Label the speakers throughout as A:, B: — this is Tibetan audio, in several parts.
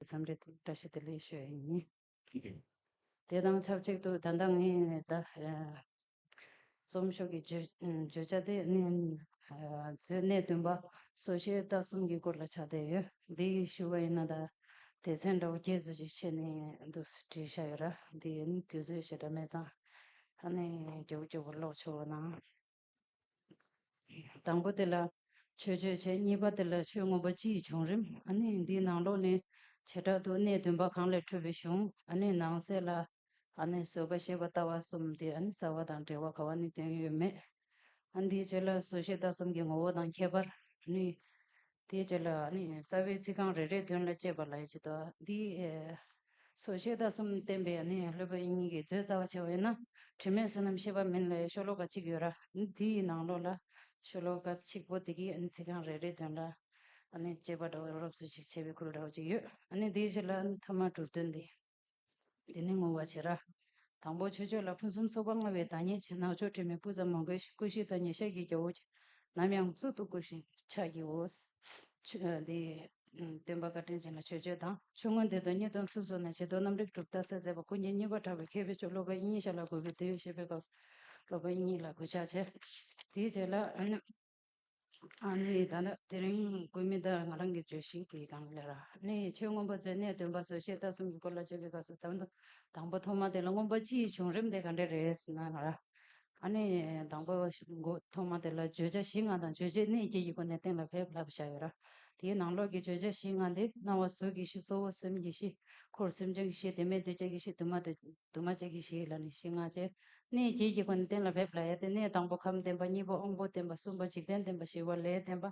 A: མཚམས་རེ་དུ་བཀྲ་ཤིས་བདེ་ལེགས་ཤོད་ཡིན། དེ་དང་ཆབས་ཅིག་ཏུ་ད་ལྟ་ངས་རྩོམ་ཤོག་གི་བརྗོད་བྱ་དེ་ནི་མཛོད་གནས་བདུན་པ་སོ་བཞི་རྟ་གསུམ་གྱི་སྐོར་ལ་ཆགས་བསྡད་ཡོད། འདི་ཡི་ཞུ་བ་ཡིན་ན་ད་དེ་ཚན་འདྲ་བོ་བརྒྱད་བཟོ་རྒྱུ་ཆད་ནས་འདུག་བྲིས་བཞག་ཡོད་ར་འདི་ཡིན་དུས་ཚོད་ཞེ་དྲག་མེད་ཙང་ཧ་ནས་རྒྱག་རྒྱུ་བོར་ཀློག་ཆོག་ཨང། དང་པོ་དེ་ལ་ཆོས་ཆོས་བྱེད་གཉིས་པ་དེ་ལ་ཆོས་མངོན་པ་སྤྱིའི་བྱུང་རིམ་ནི་འདིའི་ནང་ལོགས་ནས་བྱེ་བྲག་ཏུ་གནས་བདུན་པ་གང་ལས་འཕྲོས་པའི་གཞུང་ནང་གསལ་ལ། བཟོད་པ་ཤེས་པ་ལྟ་བ་གསུམ་དེ་རྩ་བ་དང་འབྲེལ་བ་ག་བ་ནི་དོན་ཡོད་མེད་འདིའི་ཆོས་ལ་བཟོད་ཤེས་ལྟ་གསུམ་གྱི་ངོ་བོ་དང་ཁྱད་པར་ནི། དེའི་རྗེས་ལ་ནི་རྩ་བའི་ཚིག་རྐང་རེ་རེའི་དོན་ལ་དཔྱད་པ་ལ་ཡིད་ཆེས་དོ། འདིས་སོ་བཤད་བརྡ་གསུམ་བསྟན་པས་ནི་ལྷོད་པའི་གཉིས་ཀྱི་མཛོད་རྩ་བ་ཆེ་བ་ཡིན་ན། དྲི་མེད་བསོད་ནམས་ཤེས་པ་མིན་ལའི་ཤོ་ལོ་ཀ་གཅིག་ཡོད་ར་འདི་ཡི་ནང་ལོགས་ལ་ཤོ་ལོ་ཀ་གཅིག་པོ་དེ་གའི་ཚིག་རྐང་རེ་རེའི་དོན་ལ་དཔྱད་པ་འདྲ་བོ་རོབ་རོབ་སུ་ཞིག་བྱེད་པའི་ཁུལ་འདྲ་བོ་ཅིག་ཡོད། འདིའི་རྗེས་ལ་ནི་ཐ་མ་གྲུབ་དོན་འདི། འདི་ནི་བསྔོ་བ་བྱེད་ར། དང་པོ་ཆོས་ཕྱོགས་ལ་ཕུན་སུམ་ཚོགས་པ་མངའ་བའི་བདག་ཉིད་ཆེ་ནག་ཕྱོགས་དྲི་མེད་སྤུ་ཙམ་མ་མགོན་ཞིང་སྐུ་བཞི་དང་ཉེ་ཞག་གི་རྒྱལ་པོ། ནམ་ཡང་གཙུག་ཏུ་བཀུར་ཞིང་ཕྱག་བགྱིའོ། འདི་སྟོན་པ་བཀའ་དྲིན་ཅན་ལ་ཆོས་སྤྱོད་དང་ཆོས་མངོན་འདི་དང་གཉིས་སྟོན་ཚུལ་སོགས་ནས་བྱི་དོར་རྣམ་རིག་གྲུབ་མཐའ་གསལ་མཛད་པ་སྐུ་མཁྱེན་གཉིས་པར་གྲགས་པའི་མཁས་པའི་མཆོག་སློབ་དཔོན་དབྱིངས་ཞལ་ལ་འགོད་པའི་དུས་ཞེས་པའི་སྐབས་སུ་སློབ་དཔོན་དབྱིངས་ལ་གུས་ཕྱག་བྱས། དེའི་རྗེས་ལ། ཨ་ནི་ད་ལྟ་དེ་རིང་སྐུ་མི་དག་ང་རང་གི་བརྗོད་གཞི་དེ་དང་ལེ་ར་ནི་ཆོས་མངོན་པ་ཚོའི་གནད་དོན་པ་བཟོ་ཤེས་ལྟ་གསུམ་གྱི་སྐོར་ལ་བརྗོད་ཀྱི་སྐབས་སུ་དང་དང་པོ་ཐོག་མ་དེ་ལ་མངོན་པ་སྤྱིའི་བྱུང་རིམ་དེ་ག་འདྲ་རེད་ཟེར་ན་ང་ར་ཨ་ནི་དང་པོ་ཐོག་མ་དེ་ལ་བརྗོད་བྱ་བཞི་ལྔ་དང་བརྗོད་བྱའི་གནད་བརྒྱད་ཀྱི་སྒོ་ནས་གཏན་ལ་ཕེབས་སླ་བོ་ཆགས་ཡོད་ར་དེའི་ནང་ལོགས་ཀྱི་བརྗོད་བྱ་བཞི་ལྔ་དེ་སྣང་བ་གཟུགས་ཀྱི་གཞི་གཙོ་བོ་སེམས་ཀྱི་གཞི་འཁོར་སེམས་བྱུང་གི་གཞི་དེ་མེད་དུ་བྱེད་ཀྱི་གཞི་དུ་མ་དུ་མ་བྱེད་ཀྱི་གཞི་ལ་ནི་གཞི་ལྔ་བྱེད་གནས་བརྒྱད་ཀྱི་སྒོ་ནས་གཏན་ལ་འབེབས་ལ་ཡ་སྟེ་གནས་དང་པོ་ཁམས་བདེན་པ་གཉིས་པ་དབང་པོ་བདེན་པ་གསུམ་པ་འཇིག་རྟེན་བདེན་པ་བཞི་བ་ལས་བདེན་པ་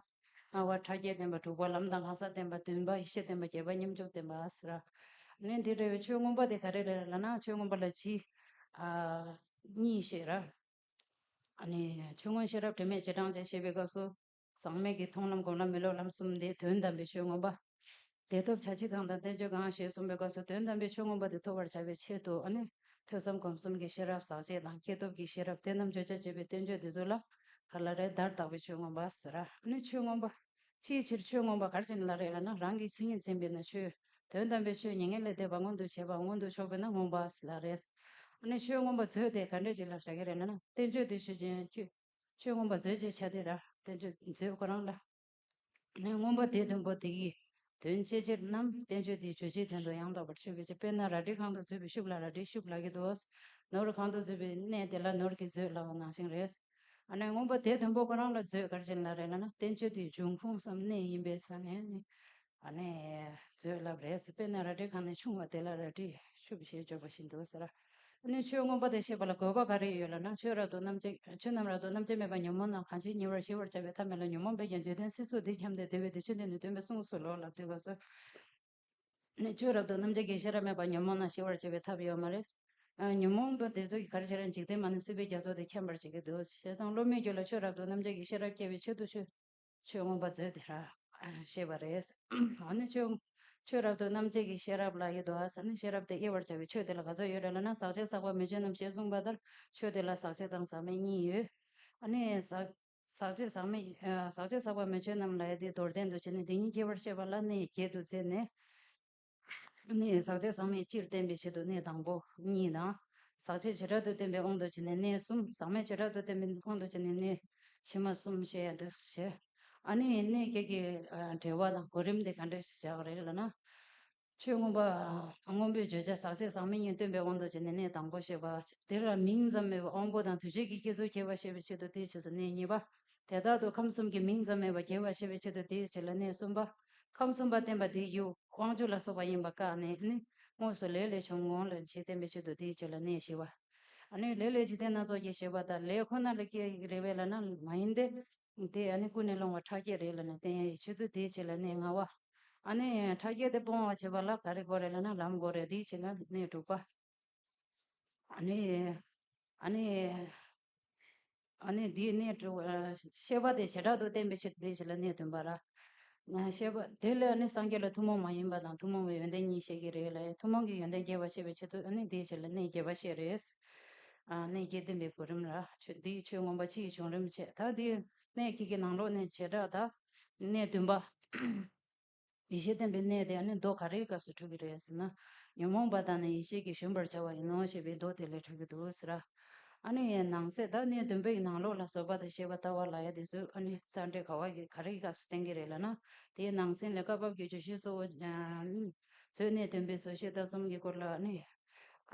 A: ལྔ་བ་ཕྲ་རྒྱས་བདེན་པ་དྲུག་པ་ལམ་དང་ལྷ་ས་བདེན་པ་བདུན་པ་ཡེ་ཤེས་བདེན་པ་བརྒྱད་པ་སྙོམས་འཇུག་བདེན་པ་ཨཱས་ར། གནས་འདིར་རེ་བའི་ཆོས་མངོན་པ་དེ་ག་རེ་རེ་ར་ལ་ན་ཆོས་མངོན་པ་ལ་གཅིག། གཉིས་ཞེས་ར། ཆོས་མངོན་ཤེས་རབ་དྲི་མེད་རྗེས་འབྲང་ཅན་ཞེས་པའི་སྐབས་སུ། ཟག་མེད་ཀྱི་མཐོང་ལམ་སྒོམ་ལམ་མི་སློབ་ལམ་གསུམ་སྟེ་དོན་དམ་པའི་ཆོས་མངོན་པ། དེ་ཐོབ་བྱ་ཕྱིར་གང་དང་བསྟན་བཅོས་གང་ཞེས་གསུངས་པའི་སྐབས་སུ་དོན་དམ་པའི་ཆོས་མངོན་པ་དེ་ཐོབ་པར་བྱ་བའི་ཆེད་དུ་ནི། ཐོས་བསམ་སྒོམ་གསུམ་གྱི་ཤེས་རབ་ཟག་བཅས་དང་སྐྱེས་ཐོབ་ཀྱི་ཤེས་རབ་དེ་རྣམས་བརྗོད་བྱ་བྱེད་པའི་བསྟན་བཅོས་འདི་ཚོ་ལ་གར་ལ་རས་དར་དག་པའི་ཆོས་མངོན་པ་ཟེར། ནི་ཆོས་མངོན་པ། ཅིའི་ཕྱིར་ཆོས་མངོན་པ་གར་བྱེད་ནི་ལ་རས་ལ་ནི་རང་གི་མཚན་ཉིད་འཛིན་པས་ན་ཆོས། དོན་དམ་པའི་ཆོས་མྱ་ངན་ལས་འདས་པ་མངོན་དུ་བྱེད་པ་མངོན་དུ་ཕྱོགས་པས་ན་མངོན་པ་ལ་རས། ནི་ཆོས་མངོན་པ་མཛོད་དེ་ག་འདྲས་ཅིག་ལ་བྱ་གི་རེད་ན་ན་བསྟན་བཅོས་འདི་ཆོས་ཅན། ཆོས་མངོན་པ་མཛོད་ཅེས་བྱ་སྟེ། བསྟན་བཅོས་མཛོད་ཁོ་རང་ལ། མངོན་པ་དེའི་དོན་པོ་དེ་ཡི་དོན་བཅས་ཕྱིར་ནམ་བསྟན་བཅོས་དེའི་བརྗོད་བྱའི་དོན་དུ་ཡང་དག་པར་ཆོས་ཀྱི་དཔེར་ན་རལ་གྲི་གང་དུ་བརྫུས་པའི་ཤུགས་ལ་རལ་གྲིའི་ཤུགས་ལ་གྱི་དུ་བས། ནོར་གང་དུ་བརྫུས་པའི་གནས་དེ་ལ་ནོར་གྱིས་བརྫོད་སླ་བ་ནང་ཞིང་རས། མངོན་པ་དེའི་དོན་པོ་ཁོ་རང་ལ་བརྫོད་དཀར་ཅན་ལ་རས་ལ་ན་བསྟན་བཅོས་དེའི་འབྱུང་ཁུངས་སམ་གནས་ཡིན་པས་ས་ནས་ནི། ཨ་ནི་མཛོད་བསླབ་རེས་སྤེལ་ནས་རལ་གྲི་གང་ནས་ཕྱུང་བ་དེ་ལ་རལ་གྲིས་ཕྱུབ་ཞེས་བརྗོད་པ་བཞིན་དུ་ཟེར། ཨ་ནི་ཆོས་མངོན་པ་དེ་ཤེས་པ་ལ་དགོས་པ་ག་རེ་ཡོད་ལ་ན་ཆོས་རབ་ཏུ་རྣམ་འབྱེད་ཆོས་རྣམས་རབ་ཏུ་རྣམ་འབྱེད་མེད་པ་ཉོན་མོངས་རྣམས་གང་ཅིའི་ཉེ་བར་ཞི་བར་བྱ་བའི་ཐབས་མེད་ལ་ཉོན་མོངས་པས་ཀྱང་བརྗོད་ལྡན་སྲིད་གཟུགས་འདི་འཁྱམས་ཏེ་དེ་བས་དེ་ཆོས་འདི་ནི་སྟོན་པའི་གསུངས་སོ་ལོག་ལབ་དེ་ག་ཟེ། ཨ་ནི་ཆོས་རབ་ཏུ་རྣམ་འབྱེད་ཀྱི་ཤེས་རབ་མེད་པ་ཉོན་མོངས་རྣམས་ཞི་བར་བྱེད་པའི་ཐབས་ཡོད་མ་རེད། ཉོན་མོངས་པ་དེ་ཚོ་གི་གར་བྱེད་རང་འཇིག་རྟེན་མ་ནི་སྲིད་པའི་རྒྱ་མཚོ་དེ་འཁྱམས་པར་བྱེད་ཀྱི་འདུག་བྱས་ཙང་བློ་མི་འགྱུར་ལ་ཆོས་རབ་ཏུ་རྣམ་འབྱེད་ཀྱི་ཤེས་རབ་སྐྱེ་བའི་ཆེད་དུ་ཆོས་ཆོས་མངོན་པར་མཛོད་དེ་ར། ཞེས་པ་རེད། འོ་ན་ཆོས། ཆོས་རབ་ཏུ་རྣམ་འབྱེད་ཀྱི་ཤེས་རབ་ལ་ཡོད་དོ་ཟེར་ན་ཤེས་རབ་དེ་དབྱེ་བར་བྱ་བའི་ཆོས་དེ་ལ་ག་ཚོད་ཡོད་རེད་ལབ་ན་ཟག་བྱེད་ཟག་པ་མི་འབྱེད་རྣམས་ཞེས་གསུངས་པ་ལྟར་ཆོས་དེ་ལ་ཟག་བྱེད་དང་ཟག་མེད་གཉིས་ཡོད། ཨ་ནི། ཟག། ཟག་བྱེད་ཟག་མེད། ཟག་བྱེད་ཟག་པ་མི་འབྱེད་རྣམས་ལ་ཡེ་དེ་མདོར་བསྟན་དུ་བྱས་ནས་དེ་གཉིས་དབྱེ་བར་བཤད་པ་ལ་ནི་བརྒྱད་དུ་བརྩིས་ནས། ནི། ཟག་བཅས་ཟག་མེད་སྤྱིར་བསྟན་པའི་ཆེད་དུ་གནས་དང་པོ་གཉིས་དང། ཟག་བྱེད་བྱེ་བྲག་ཏུ་བསྟན་པའི་དབང་དུ་བྱས་ནས་གནས་གསུམ་ཟག་མེད་བྱེ་བྲག་ཏུ་བསྟན་པའི་དབང་དུ་བྱས་ནས་གནས། ཕྱི་མ་གསུམ་ཞེས་ཡང་འགྲེལ་བཞི། ཨ་ནི་གནས་བརྒྱད་ཀྱི་འབྲེལ་བ་དང་གོ་རིམ་དེ་ག་འདྲས་ཤེས་བྱ་བ་རེད་ལ་ན། ཆོས་མངོན་པ། སྔོན་པོའི་བརྗོད་བྱ་ཟག་བཅས་ཟག་མེད་གཉིས་སྟོན་པའི་དབང་དུ་བྱས་ནས་གནས་དང་པོ་ཞེས་པ། དེ་ལ་མིང་ཙམ་མེད་པར་དབང་པོ་དང་དུས་བྱད་ཀྱི་སྐྱེད་ཚུལ་ཁྱད་པར་ཤེས་པའི་ཆེད་དུ་དེའི་ཕྱིས་སུ་གནས་གཉིས་པ། དེ་དག་ཏུ་ཁམས་གསུམ་གྱི་མིང་ཙམ་མེད་པར་རྒྱལ་བར་བྱེད་པའི་ཆེད་དུ་དེའི་ཕྱིར་ལ་གནས་གསུམ་པ། ཁམས་གསུམ་པ་བསྟན་པ་དེའི་ཡུལ་དབང་ཕྱུག་ལ་སོགས་པ་ཡིན་པར་བཀག་ནས་ནི། དངོས་སུ་ལས་ལས་བྱུང་ངོ། ལས་ཀྱིས་བསྟན་པའི་ཆེད་དུ་དེའི་ཕྱིར་ལ་གནས་ཞེས་པ། ནི། ལས་ལས་ཀྱིས་བསྟན་སྣ་ཚོགས་ཀྱིས་ཞེས་པ་ལྟར་ལས་ཁོ་ན་ལས་སྐྱེ་ཡི་རེ་བས་ལ་ན་མ་ཡིན་ཏེ། དེ་ནི་ཀུན་ནས་སློང་བ་ཕྲ་རྒྱས་རེ་ལ་ནི་བསྟན་ཡ་ཡི་ཆེད་དུ་དེའི་ཕྱིར་ལ་གནས་ལྔ་བ། ནི། ཕྲ་རྒྱས་དེ་སྤོང་བར་བྱེད་པ་ལ་ག་རེ་དགོས་རེ་ལ་ན་ལམ་དགོས་རེ་དེའི་ཕྱིར་ལ་གནས་དྲུག་པ། དེའི་གནས་དྲི་བ། ཤེས་པ་དེ་བྱེ་བྲག་ཏུ་བསྟན་པའི་ཕྱིར་དེའི་ཕྱིར་ལ་གནས་བསྟུན་པ་ར། ཤེས་པ་དེ་ལས་ནི་སངས་རྒྱས་ལ་ཐུན་མོང་མ་ཡིན་པ་དང་ཐུན་མོང་བའི་ཡོན་ཏན་གཉིས་བཤད་ཀྱི་རེད་ལ། ཐུན་མོང་གི་ཡོན་ཏན་རྒྱས་པར་བཤད་པའི་ཕྱིར་དུ་དེའི་ཕྱིར་ལ་གནས་རྒྱས་པར་བཤད་རེས། གནས་རྒྱས་བསྟན་པའི་གོ་རིམ་ར། དེའི་ཆོས་མངོན་པ་ཕྱི་ཡི་བྱུང་རིམ་འཆད་ད། དེའི་གནས་ཁྱེད་ཀྱིས་ནང་ལོགས་ནས་བྱེ་བྲག་དག་གནས་བསྟུན་པ། ཡེ་ཤེས་བསྟན་པའི་གནས་དེ་ནི་མདོ་ག་རེའི་སྐབས་སུ་གྲུབ་པའི་རེད་ཟེར་ན། ཉོན་མོངས་པ་དག་ནི་ཡེ་ཤེས་ཀྱིས་གཞོན་པར་བྱ་བ་ཡིན་ནོ་ཞེས་པའི་མདོ་དེ་ལས་གྲུབ་ཀྱི་འདུག་ཟེར། ཨ་ནི་ཡའི་ནང་གསེས་དག་གནས་བདུན་པའི་ནང་ལོགས་ལ་སོགས་པ་དང་ཞེས་པ་ལྟ་བ་ལ་ཡ་དེ་ཚོས་ཨ་ནི་རྩ་འགྲེལ་ག་བ་ག་རེའི་སྐབས་སུ་བསྟན་གྱི་རེད་ལབ་ན། དེའི་ནང་གསེས་ལས་བཀའ་བབས་ཀྱི་བརྗོད་གཞི་གཙོ་བོ། ཚོས་གནས་བདུན་པའི་བཟོ་ཤེས་རྟགས་གསུམ་གྱི་སྐོར་ལ་ཨ་ནི།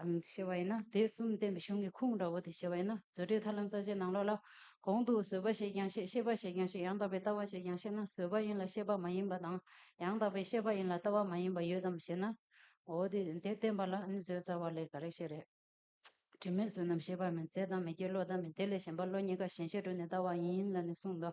A: ཞེས་པ་ཡིན་ན་དེ་གསུམ་བསྟན་པའི་གཞུང་གི་ཁུངས་འདྲ་བོ་དེ་ཞེས་པ་ཡིན་ན་མཛོད་འགྲེལ་ཐར་ལམ་ས་བཅད་ནང་ལོགས་ལ། གོང་དུ་བཟོད་པ་ཞེས་ཀྱང་བཤད་ཤེས་པ་ཞེས་ཀྱང་བཤད་ཡང་དག་པའི་ལྟ་བ་ཞེས་ཀྱང་བཤད་ན་བཟོད་པ་ཡིན་ལ་ཤེས་པ་མ་ཡིན་པ་དང། ཡང་དག་པའི་ཤེས་པ་ཡིན་ལ་ལྟ་བ་མ་ཡིན་པ་ཡོད་དམ་ཞེ་ན། འོ་དེ་དེ་བསྟན་པ་ལ་ནི་བཟོད་རྩ་བ་ལས་ག་རེ་ཤེས་རེད། དྲི་མེད་བཟོད་ནམ་ཤེས་པ་མིན་ཟད་དང་མི་སྐྱེ་བློ་དང་མིན་དེ་ལས་གཞན་པ་བློ་གཉིས་ཀ་གཞན་ཤེས་དྲུག་ནི་ལྟ་བ་ཡིན་ལ་ནི་གསུངས་སོ།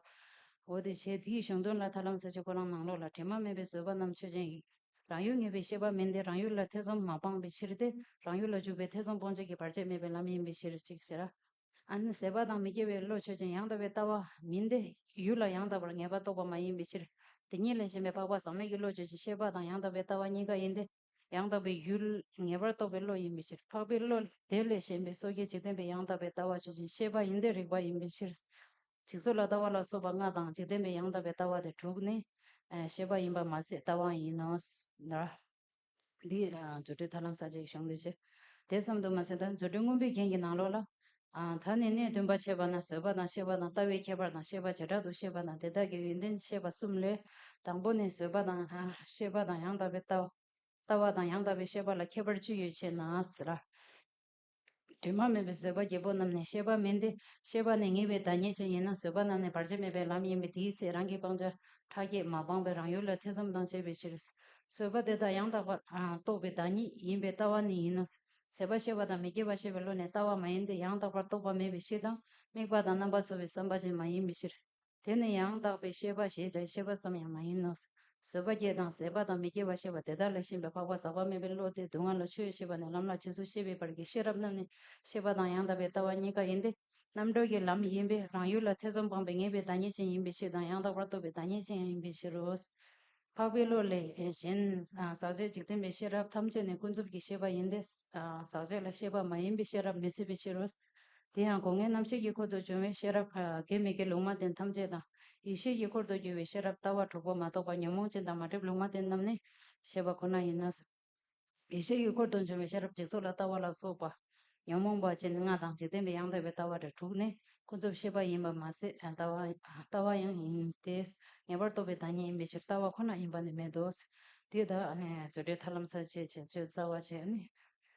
A: འོ་དེ་བྱས་དེའི་གཞུང་དོན་ལ་ཐར་ལམ་ས་བཅད་ཀོ་རང་ནང་ལོགས་ལ་དྲི་མ་མེད་པའི་བཟོད་པ་རྣམས་ཆོས་ཅན་ཡིན། རང་ཡུལ་ངེས་པའི་ཤེས་པ་མིན་ཏེ་རང་ཡུལ་ལ་ཐེ་ཚོམ་མ་སྤངས་པའི་ཕྱིར་ཏེ། རང་ཡུལ་ལ་འཇུག་པའི་ཐེ་ཚོམ་སྤོང་བྱེད་ཀྱི་བར་ཆད་མེད་པའི་ལམ་ཡིན་པའི་ཕྱིར་གཅིག་ཟེར། ཨ་ནི་ཟད་པ་དང་མི་སྐྱེ་བའི་བློ་ཆོས་ཅན་ཡང་དག་པའི་ལྟ་བ་མིན་ཏེ། ཡུལ་ལ་ཡང་དག་པར་ངེས་པ་རྟོགས་པ་མ་ཡིན་པའི་ཕྱིར། དེ་གཉིས་ལས་གཞན་པའི་འཕགས་པ་ཟག་མེད་ཀྱི་བློ་ཆོས་ཅན་ཤེས་པ་དང་ཡང་དག་པའི་ལྟ་བ་གཉིས་ཀ་ཡིན་ཏེ། ཡང་དག་པའི་ཡུལ་ངེས་པར་རྟོགས་པའི་བློ་ཡིན་པའི་ཕྱིར་འཕགས་པའི་བློ། དེ་ལས་གཞན་པའི་སོ་སྐྱེ་འཇིག་རྟེན་པའི་ཡང་དག་པའི་ལྟ་བ་ཆོས་ཅན་ཤེས་པ་ཡིན་ཏེ་རིགས་པ་ཡིན་པའི་ཕྱིར། འཇིག་ཚོགས་ལ་ལྟ་བ་ལ་སོགས་པ་ལྔ་དང་འཇིག་རྟེན་པའི་ཡང་དག་པའི་ལྟ་བ་དེ་དྲུག་ནི། ཤེས་པ་ཡིན་པར་མ་ཟད་ལྟ་བ་ཡིན་ནོ། འདི་རྫུ་འཕྲུལ་ཐར་ལམ་ས་ཅིག་ཤོང་འདོད་ཆེ། དེ་ཙམ་དུ་མ་ཟད་ད་རྫུ་འཕྲུལ་སྔོན་པོའི་རྒྱན་གྱི་ནང་ལོགས་ལ། ད་ནི་གནས་བདུན་པ་འཆད་པ་ན་བཟོད་པ་དང་ཤེས་པ་དང་ལྟ་བའི་ཁྱད་པར་དང་ཤེས་པ་བྱེ་བྲག་ཏུ་བཤད་པ་དང་དེ་དག་གི་ཡོན་ཏན་བཤད་པ་གསུམ་ལས། དང་པོ་ནི་བཟོད་པ་དང་ཤེས་པ་དང་ཡང་དག་པའི་ལྟ་བ་དང་ཡང་དག་པའི་ཤེས་པ་ལ་ཁྱད་པར་ཅི་ཡོད་ཅེ་ན། དྲི་མ་མེད་པའི་བཟོད་པ་བརྒྱད་པོ་རྣམས་ནི་ཤེས་པ་མིན་ཏེ། ཤེས་པ་ནི་ངེས་པའི་བདག་ཉིད་ཅན་ཡིན་ན་བཟོད་པ་རྣམས་ནི་བར་ཆད་མེད་པའི་ལམ་ཡིན་པས་དེའི་ཚེ་རང་གིས་སྤང་བྱ་ཕྲ་རྒྱས་མ་སྤངས་པའི་རང་ཡུལ་ལ་ཐེ་ཚོམ་དང་བཅས་པའི་ཕྱིར། བཟོད་པ་དེ་དག་ཡང་དག་པར་རྟོགས་པའི་བདག་ཉིད་ཡིན་པས་ལྟ་བ་ནི་ཡིན་ནོ། ཟད་པ་ཤེས་པ་དང་མི་སྐྱེ་བ་ཤེས་པའི་བློ་ནི་ལྟ་བ་མ་ཡིན་ཏེ་ཡང་དག་པར་རྟོགས་པ་མེད་པའི་ཕྱིར་དང་དམིགས་པ་དང་རྣམ་པ་ཚོལ་བའི་བསམ་པ་ཅན་མ་ཡིན་པའི་ཕྱིར། དེ་ནི་ཡང་དག་པའི་ཤེས་པ་ཞེས་བྱའི་ཤེས་པ་ཙམ་ཡང་མ་ཡིན་ནོ། བཟོད་པ་སྐྱེ་དང་ཟད་པ་དང་མི་སྐྱེ་བ་ཤེས་པ་དེ་དག་ལས་ཤེས་པའི་འཕགས་པ་ཟག་པ་མེད་པའི་བློ་སྟེ་སྡུག་བསྔལ་ལ་ཆོས་ཤེས་པ་ནས་ལམ་ལ་བྱེད་གཟུགས་ཤེས་པའི་བར་གྱི་ཤེས་རབ་རྣམས་ནི་ཤེས་པ་དང་ཡང་དག་པའི་ལྟ་བ་གཉིས་ཀ་ཡིན་ཏེ། རྣམ་གྲོལ་གྱི་ལམ་ཡིན་པས་རང་ཡུལ་ལ་ཐེ་ཚོམ་སྤངས་པའི་ངེས་པའི་བདག་ཉིད་ཅན་ཡིན་པའི་ཕྱིར་དང་ཡང་དག་པར་རྟོགས་པའི་བདག་ཉིད་ཅན་ཡང་ཡིན་པའི་ཕྱིར་རོ། འཕགས་པའི་བློ་ལས་གཞན། ཟག་བཅས་འཇིག་རྟེན་པའི་ཤེས་རབ་ཐམས་ཅད་ནི་ཀུན་རྫོབ་ཀྱི་ཤེས་པ་ཡིན་ཏེ། ཟག་བཅས་ལ་ཤེས་པ་མ་ཡིན་པའི་ཤེས་རབ་མི་སྲིད་པའི་ཕྱིར་རོ། དེ་ཡང་སྒོ་ལྔའི་རྣམ་ཤེས་དཀྱིལ་འཁོར་དུ་བྱུང་བའི་ཤེས་རབ། དགེ་མི་དགེ་ལུང་མ་བསྟན་ཐམས་ཅད་དང། ཡེ་ཤེས་དཀྱིལ་འཁོར་དུ་གྱུར་པའི་ཤེས་རབ་ལྟ་བ་དྲུག་པོ་མ་གཏོགས་པ་ཉོན་མོངས་ཅན་དང་མ་བསྒྲིབས་ལུང་མ་བསྟན་རྣམས་ནི། ཞེས་པ་ཁོ་ན་ཡིན་ནོ། ཡེ་ཤེས་དཀྱིལ་འཁོར་དུ་བྱུང་བའི་ཤེས་རབ་འཇིག་ཚོགས་ལ་ལྟ་བ་ལ་སོགས་པ། ཉོན་མོངས་པ་ཅན་ལྔ་དང་འཇིག་རྟེན་པའི་ཡང་དག་པའི་ལྟ་བ་དེ་དྲུག་ནི་ཀུན་རྫོབ་ཤེས་པ་ཡིན་པར་མ་ཟད་ལྟ་བ་ཡང་ཡིན་ཏེ། ངེས་པར་རྟོགས་པའི་བདག་ཉིད་ཡིན་པའི་ཕྱིར་ལྟ་བ་ཁོ་ན་ཡིན་པ་ནི་མེད་དོ། དེ་དག་ནི་རྫུ་འཕྲུལ་ཐར་ལམ་ས་བཅད་ཅིང་བཅོས་རྩ་བ་བཅད་ནས།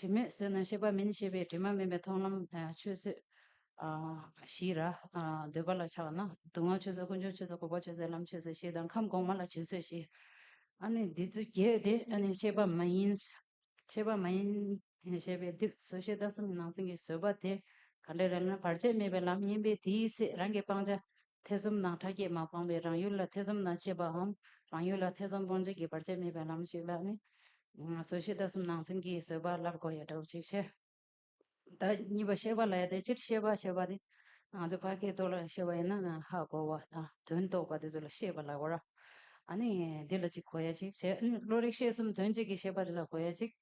A: དྲི་མེད་བསོད་ནམས་གཤེགས་པ་མིན་ཞེས་པའི་དྲི་མ་མེད་པའི་མཐོང་ལམ་ཆོས་བཟོད། ཞེས་ར། འདོད་པ་ལ་ཆགས་པ་ན་སྡུག་བསྔལ་ཆོས་བཟོད་དཀོན་མཆོག་ཆོས་བཟོད་འཁོར་བ་ཆོས་བཟོད་ལམ་ཆོས་བཟོད་ཞེས་དང་ཁམས་གོང་མ་ལ་བྱིན་བཟོད་ཞེས། ཨ་ནི་འདི་ཚོའི་རྒྱས་དེ་ཨ་ནི་ཤེས་པ་མ་ཡིན། ཤེས་པ་མ་ཡིན། ཞེས་པས་འདིར་བཟོད་ཤེས་ལྟ་སུམ་གྱི་ནང་ཚན་གྱི་བཟོད་པ་དེ་ག་འདྲ་རེད་ན་བར་ཆད་མེད་པའི་ལམ་ཡིན་པས་དེའི་ཚེ་རང་གི་སྤང་བྱ་ཐེ་ཚོམ་དང་ཕྲ་རྒྱས་མ་སྤངས་པའི་རང་ཡུལ་ལ་ཐེ་ཚོམ་དང་བཅས་པའམ་རང་ཡུལ་ལ་ཐེ་ཚོམ་སྤོང་བྱེད་ཀྱི་བར་ཆད་མེད་པའི་ལམ་ཞིག་ལ་ནི། བཟོད་ཤེས་ལྟ་སུམ་ནང་ཚན་གྱིས་བཟོད་པ་སླར་གོ་ཡང་འདྲའོ་ཅིག་ཤེས། བདག་གཉིས་པ་ཤེས་པ་ལ་ཡང་དེ་ཕྱིར་ཤེས་པ་ཞེས་པ་དེ། ང་ཚོས་བར་གྱི་དོ་ལ་ཤེས་པ་ཡིན་ན་ནི་ཧ་གོ་བ་དང་དོན་རྟོགས་པ་དེ་ཚོ་ལ་ཤེས་པ་ལ་གོ་ར། ཨ་ནི་འདི་ལ་ཅིག་གོ་ཡ་ཅིག་བྱས། བློ་རིག་ཤེས་གསུམ་དོན་གཅིག་གི་ཤེས་པ་འདི་ལ་གོ་ཡ་ཅིག།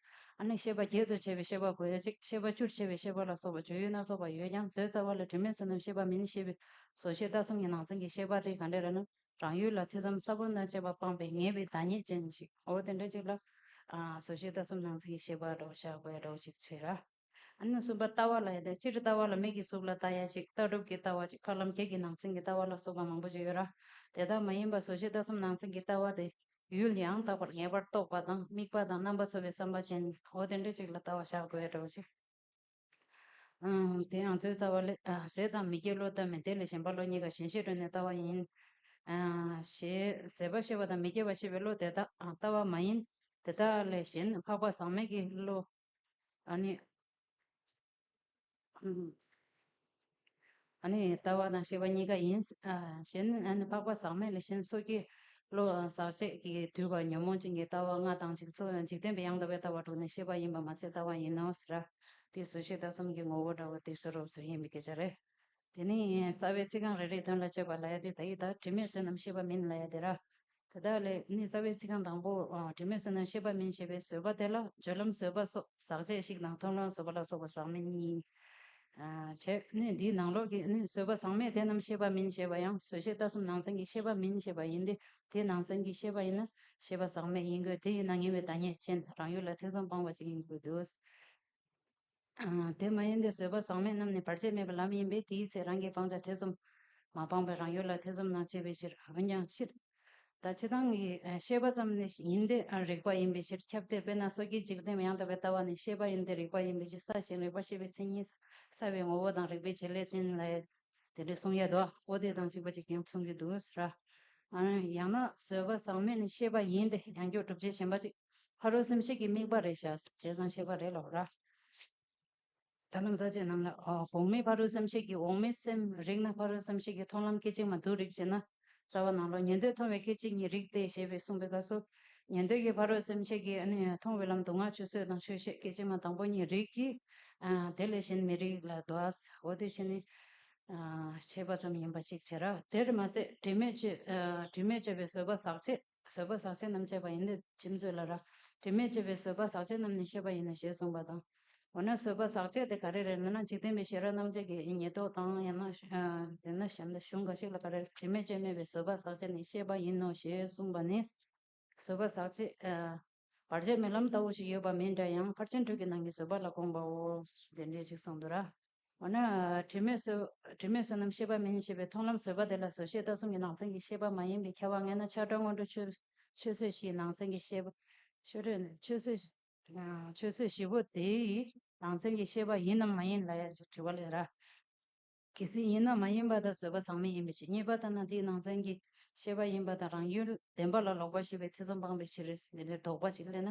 A: ཨ་ནི་ཤེས་པ་བརྒྱད་དུ་ཕྱེ་བའི་ཤེས་པ་གོ་ཡ་ཅིག་ཤེས་པ་བཅུར་ཕྱེ་བའི་ཤེས་པ་ལ་སོགས་པ་སྦྱོད་ཡུལ་སྣ་ཚོགས་པ་ཡོད་ཀྱང་བཟོའི་རྩ་བ་ལ་དྲི་མེད་བསོད་ནམས་ཤེས་པ་མིན་ཤེས་པའི་བཟོ་ཤེས་ལྟ་གསུམ་གྱི་ནང་ཚན་གྱི་ཤེས་པ་དེ་ག་འདྲ་རེད་ན་རང་ཡུལ་ལ་ཐེ་ཚོམ་ས་བོན་ན་བཅད་པ་སྤངས་པའི་ངེས་པའི་བདག་ཉིད་ཅན་ཞིག་འོ་དེ་འདྲ་ཅིག་ལ། བཟོ་ཤེས་ལྟ་གསུམ་ནང་ཚན་གྱི་ཤེས་པ་སྒྲོག་བྱ་དགོས་སྒྲོག་ཅིག་བྱས་ར། ཨ་ནུ་གསུམ་པ་ལྟ་བ་ལ་ཡོད་དེ་སྤྱིར་ལྟ་བ་ལ་མིག་གི་གཟུགས་ལ་ལྟ་ཡ་གཅིག་ལྟ་གྲུབ་ཀྱི་ལྟ་བ་གཅིག་ཕར་ལམ་ཁྱེད་ཀྱི་ནང་ཚན་གྱི་ལྟ་བ་ལ་སོགས་པ་མང་པོ་ཅིག་ཡོད་ར། དེ་དག་མ་ཡིན་པ་ཟོ་ཤེས་ལྟ་གསུམ་ནང་ཚན་གྱི་ལྟ་བ་དེ། ཡུལ་ཡང་དག་པར་ངེས་པར་རྟོགས་པ་དང་དམིགས་པ་དང་རྣམ་པ་ཚོལ་བའི་བསམ་པ་ཅན་འོ་དེ་འདྲ་གཅིག་ལ་ལྟ་བ་བཞག་དགོས་ཡ་འདྲ་བ་ཅིག། དེ་ཡང་ཚོའི་རྩ་བ་ལས། ཟས་དང་མི་སྐྱེ་བློས་བལྟ་མིན་དེ་ལས་གཞན་པ་བློ་གཉིས་ཀ་གཞན་ཤེས་སྒྲོན་ནས་ལྟ་བ་ཡིན། ཞེས་ཟས་པ་ཤེས་པ་དང་མི་སྐྱེ་བ་ཤེས་པའི་བློ་དེ་དག་ལྟ་བ་མ་ཡིན། དེ་དག་ལས་གཞན་འཕགས་པ་ཟག་མེད་ཀྱི་བློ། ཨ་ནི། ཨ་ནི། ལྟ་བ་དང་ཤེས་པ་གཉིས་ཀ་ཡིན། གཞན་ཨ་ནི་འཕགས་པ་ཟག་མེད་ལས་གཞན་སོ་སྐྱེ། བློ་ཟག་བཅས་ཀྱིས་བསྡུས་པ་ཉོན་མོངས་ཅན་གྱི་ལྟ་བ་ལྔ་དང་འཇིག་ཚོགས་འཇིག་རྟེན་པའི་ཡང་དག་པའི་ལྟ་བ་དྲུག་ནི་ཤེས་པ་ཡིན་པར་མ་ཟད་ལྟ་བ་ཡིན་ནོ་ཟེར། དེའི་གཟུགས་ཤེས་ལྟ་གསུམ་གྱི་ངོ་བོ་འདྲ་བ་དེ་ཚོ་རོབ་ཚོད་ཡིན་པའི་སྐད་ཆ་རེད། དེ་ནི་རྩ་བའི་ཚིག་རྐང་རེ་རེའི་དོན་ལ་དཔྱོད་པ་ལ་ཡ་དེ་ད་ཡི་དྭགས་དྲི་མེད་བསོད་ནམས་ཤེས་པ་མིན་ལ་ཡ་དེ་ར། དེ་དག་ལས་ནི་རྩ་བའི་ཚིག་རྐང་དང་པོ་དྲི་མེད་བསོད་ནམས་ཤེས་པ་མིན་ཞེས་པའི་བཟོད་པ་དེ་ལ་སྦྱོར་ལམ་བཟོད་པ་སོགས་ཟག་བཅས་ཤིག་དང་མཐོང་ལམ་བཟོད་པ་ལ་སོགས་པ་ཟག་མེད་གཉིས། བྱས་ནས་འདིའི་ནང་ལོགས་ཀྱི་ནི་བཟོད་པ་ཟག་མེད་དེ་རྣམས་ཤེས་པ་མིན་ཞེས་པ་ཡང་བཟོད་བྱའི་ལྟ་གསུམ་ནང་ཚན་གྱི་ཤེས་པ་མིན་ཞེས་པ་ཡིན་ཏེ་དེ་ནང་ཚན་གྱི་ཤེས་པ་ཡིན་ན་ཤེས་པ་ཟག་མེད་ཡིན་དགོས་དེ་ཡིན་ན་ངེས་པའི་བདག་ཉིད་ཅན་རང་ཡུལ་ལ་ཐེ་ཚོམ་སྤངས་པ་ཅིག་ཡིན་དགོས་དུས། དེ་མ་ཡིན་ཏེ་བཟོད་པ་བཟང་མེད་རྣམས་ནི་བར་ཆད་མེད་པའི་ལམ་ཡིན་པས་དེའི་ཚེ་རང་གིས་སྤང་བྱ་ཐེ་ཚོམ། མ་སྤངས་པས་རང་ཡུལ་ལ་ཐེ་ཚོམ་རྣམས་བྱེད་པའི་ཕྱིར་འོན་ཀྱང་ཕྱིར། ད་ཅི་དང་གི་ཤེས་པ་ཙམ་ནི་ཡིན་ཏེ་རིགས་པ་ཡིན་པའི་ཕྱིར་ཁྱབ་སྟེ་དཔེར་ན་སོ་སྐྱེའི་འཇིག་རྟེན་ཡང་དག་པའི་ལྟ་བ་ནི་ཤེས་པ་ཡིན་ཏེ་རིགས་པ་ཡིན་པའི་ཕྱིར་ས་ཞིང་རིགས་པ་ཤེས་པའི་མཚན་ཉིད་ས་བའི་ངོ་བོ་དང་རིགས་པའི་བྱེད་ལས་ཅན་ལས། དེ་འདྲའི་གསུང་ཡལ་དུའོ་དེ་དང་གཅིག་པ་གཅིག་ཀྱང་མཚུངས་ཀྱི་དུ་ཟེར། ཡང་ན་བཟོད་པ་བཟང་མེད་ནི་ཤེས་པ་ཡིན་ཏེ་ཡང་སྒྱུ་སྒྲུབ་བྱེད་གཞན་པ་གཅིག། ཕ་རོལ་སེམས་བསྐྱེད་ཀྱི་དམིགས་པ་རེ་བྱ། བྱས་ཙང་ཤེས་པ་རེ་ལོག་ར། ད་ལམ་ཟག་བཅས་རྣམས་ལ། གོང་མའི་ཕ་རོལ་སེམས་བསྐྱེད་ཀྱི་འོག་མའི་སེམས་རིག་ན་ཕ་རོལ་སེམས་བསྐྱེད་ཀྱི་མཐོང་ལམ་སྐད་ཅིག་མ་དུ་རིག་ཅེ་ན། རྩ་བ་ནང་ལོག་ཉན་ཐོས་མཐོང་བའི་སྐད་ཅིག་ཉིད་རིག་སྟེ་ཞེས་པའི་གསུངས་པའི་སྐབས་སུ། ཉན་ཐོས་ཀྱི་ཕ་རོལ་སེམས་བསྐྱེད་ཀྱི་མཐོང་བའི་ལམ་དུ་ངག་ཆོས་སྲོད་དང་ཆོས་བཤད་སྐད་ཅིག་མ་དང་པོ་གཉིས་རིག་གི། དེ་ལས་གཞན་མི་རིག་ལ། འོ་དེ་བཞིན་ནི། བྱས་པ་ཙམ་ཡིན་པ་གཅིག་བྱས་ར། དེར་མ་ཟད་དྲི་མས་བཅོས། དྲི་མས་བཅོས་པའི་བཟོད་པ་ཟག་བཅས། བཟོད་པ་ཟག་བཅས་རྣམས་བཅད་པ་ཡིན། ཅེས་བརྗོད་ལ། དྲི་མེད་ཅེས་པའི་བཟོད་པ་ཟག་བཅས་རྣམས་ནི་ཤེས་པ་ཡིན་ནོ་ཞེས་གསུངས་པ་དང། འོ་ན་བཟོད་པ་ཟག་བཅས་དེ་ག་རེ་རེད་མིན་ན་འཇིག་རྟེན་པའི་ཤེས་རབ་རྣམ་བཅད་ཀྱི་ཉེས་རྟོག་དང་ཡང་ན་གཞུང་འགའ་ཞིག་ལ་ག་རེ་དྲི་མེད་ཅེས་སྨྲས་པའི་བཟོད་པ་ཟག་བཅས་ནི་ཤེས་པ་ཡིན་ནོ་ཞེས་གསུངས་པ་ནི། བཟོད་པ་ཟག་བཅས། བར་ཆད་མེད་ལམ་ལྟ་བུ་ཞིག་ཡོད་པ་མིན་འདྲ་ཡང་ཕར་ཕྱིན་དྲུག་གི་ནང་གི་བཟོད་པ་ལ་དགོངས་པའོ། དེ་འདྲའི་ཞིག་གསུངས་འདུག་ར། འོ་ན། དྲི་མེད་བསོད་ནམས་ཤེས་པ་མིན་ཞེས་པའི་མཐོང་ལམ་བཟོད་པ་དེ་ལ་བཟོད་ཤེས་ལྟ་སྲུང་གི་ནང་ཚན་གྱི་ཤེས་པ་མ་ཡིན་པའི་ཁྱད་པར་ངེས་ན་ཆགས་སྒྲ་སྔོན་འགྲོ་ཆོས་བཟོད་བཞིའི་ནང་ཚན་གྱི་ཤེས་པ། ཆོས་བཟོད་ནི་ཆོས་བཟོད། ཆོས་བཟོད་བཞི་པོ་དེའི་ནང་ཚན་གྱི་ཤེས་པ་ཡིན་ནམ་མ་ཡིན་ལ་ཡང་དྲི་བ་ལས་ར། གལ་སྲིད་ཡིན་ན་མ་ཡིན་པ་དང་བཟོད་པ་ཟག་མེད་ཡིན་པའི་ཕྱིར་རྙེད་པ་དང་ན་དེའི་ནང་ཚན་གྱི་ཤེས་པ་ཡིན་པ་དང་རང་ཡུལ་བདེན་པ་ལ་ལོག་པར་ཤེས་པའི་ཐེ་ཚོམ་སྤངས་པའི་ཕྱིར་འདི་འདྲའི་དོགས་པ་ཅིག་སླེབས་ན་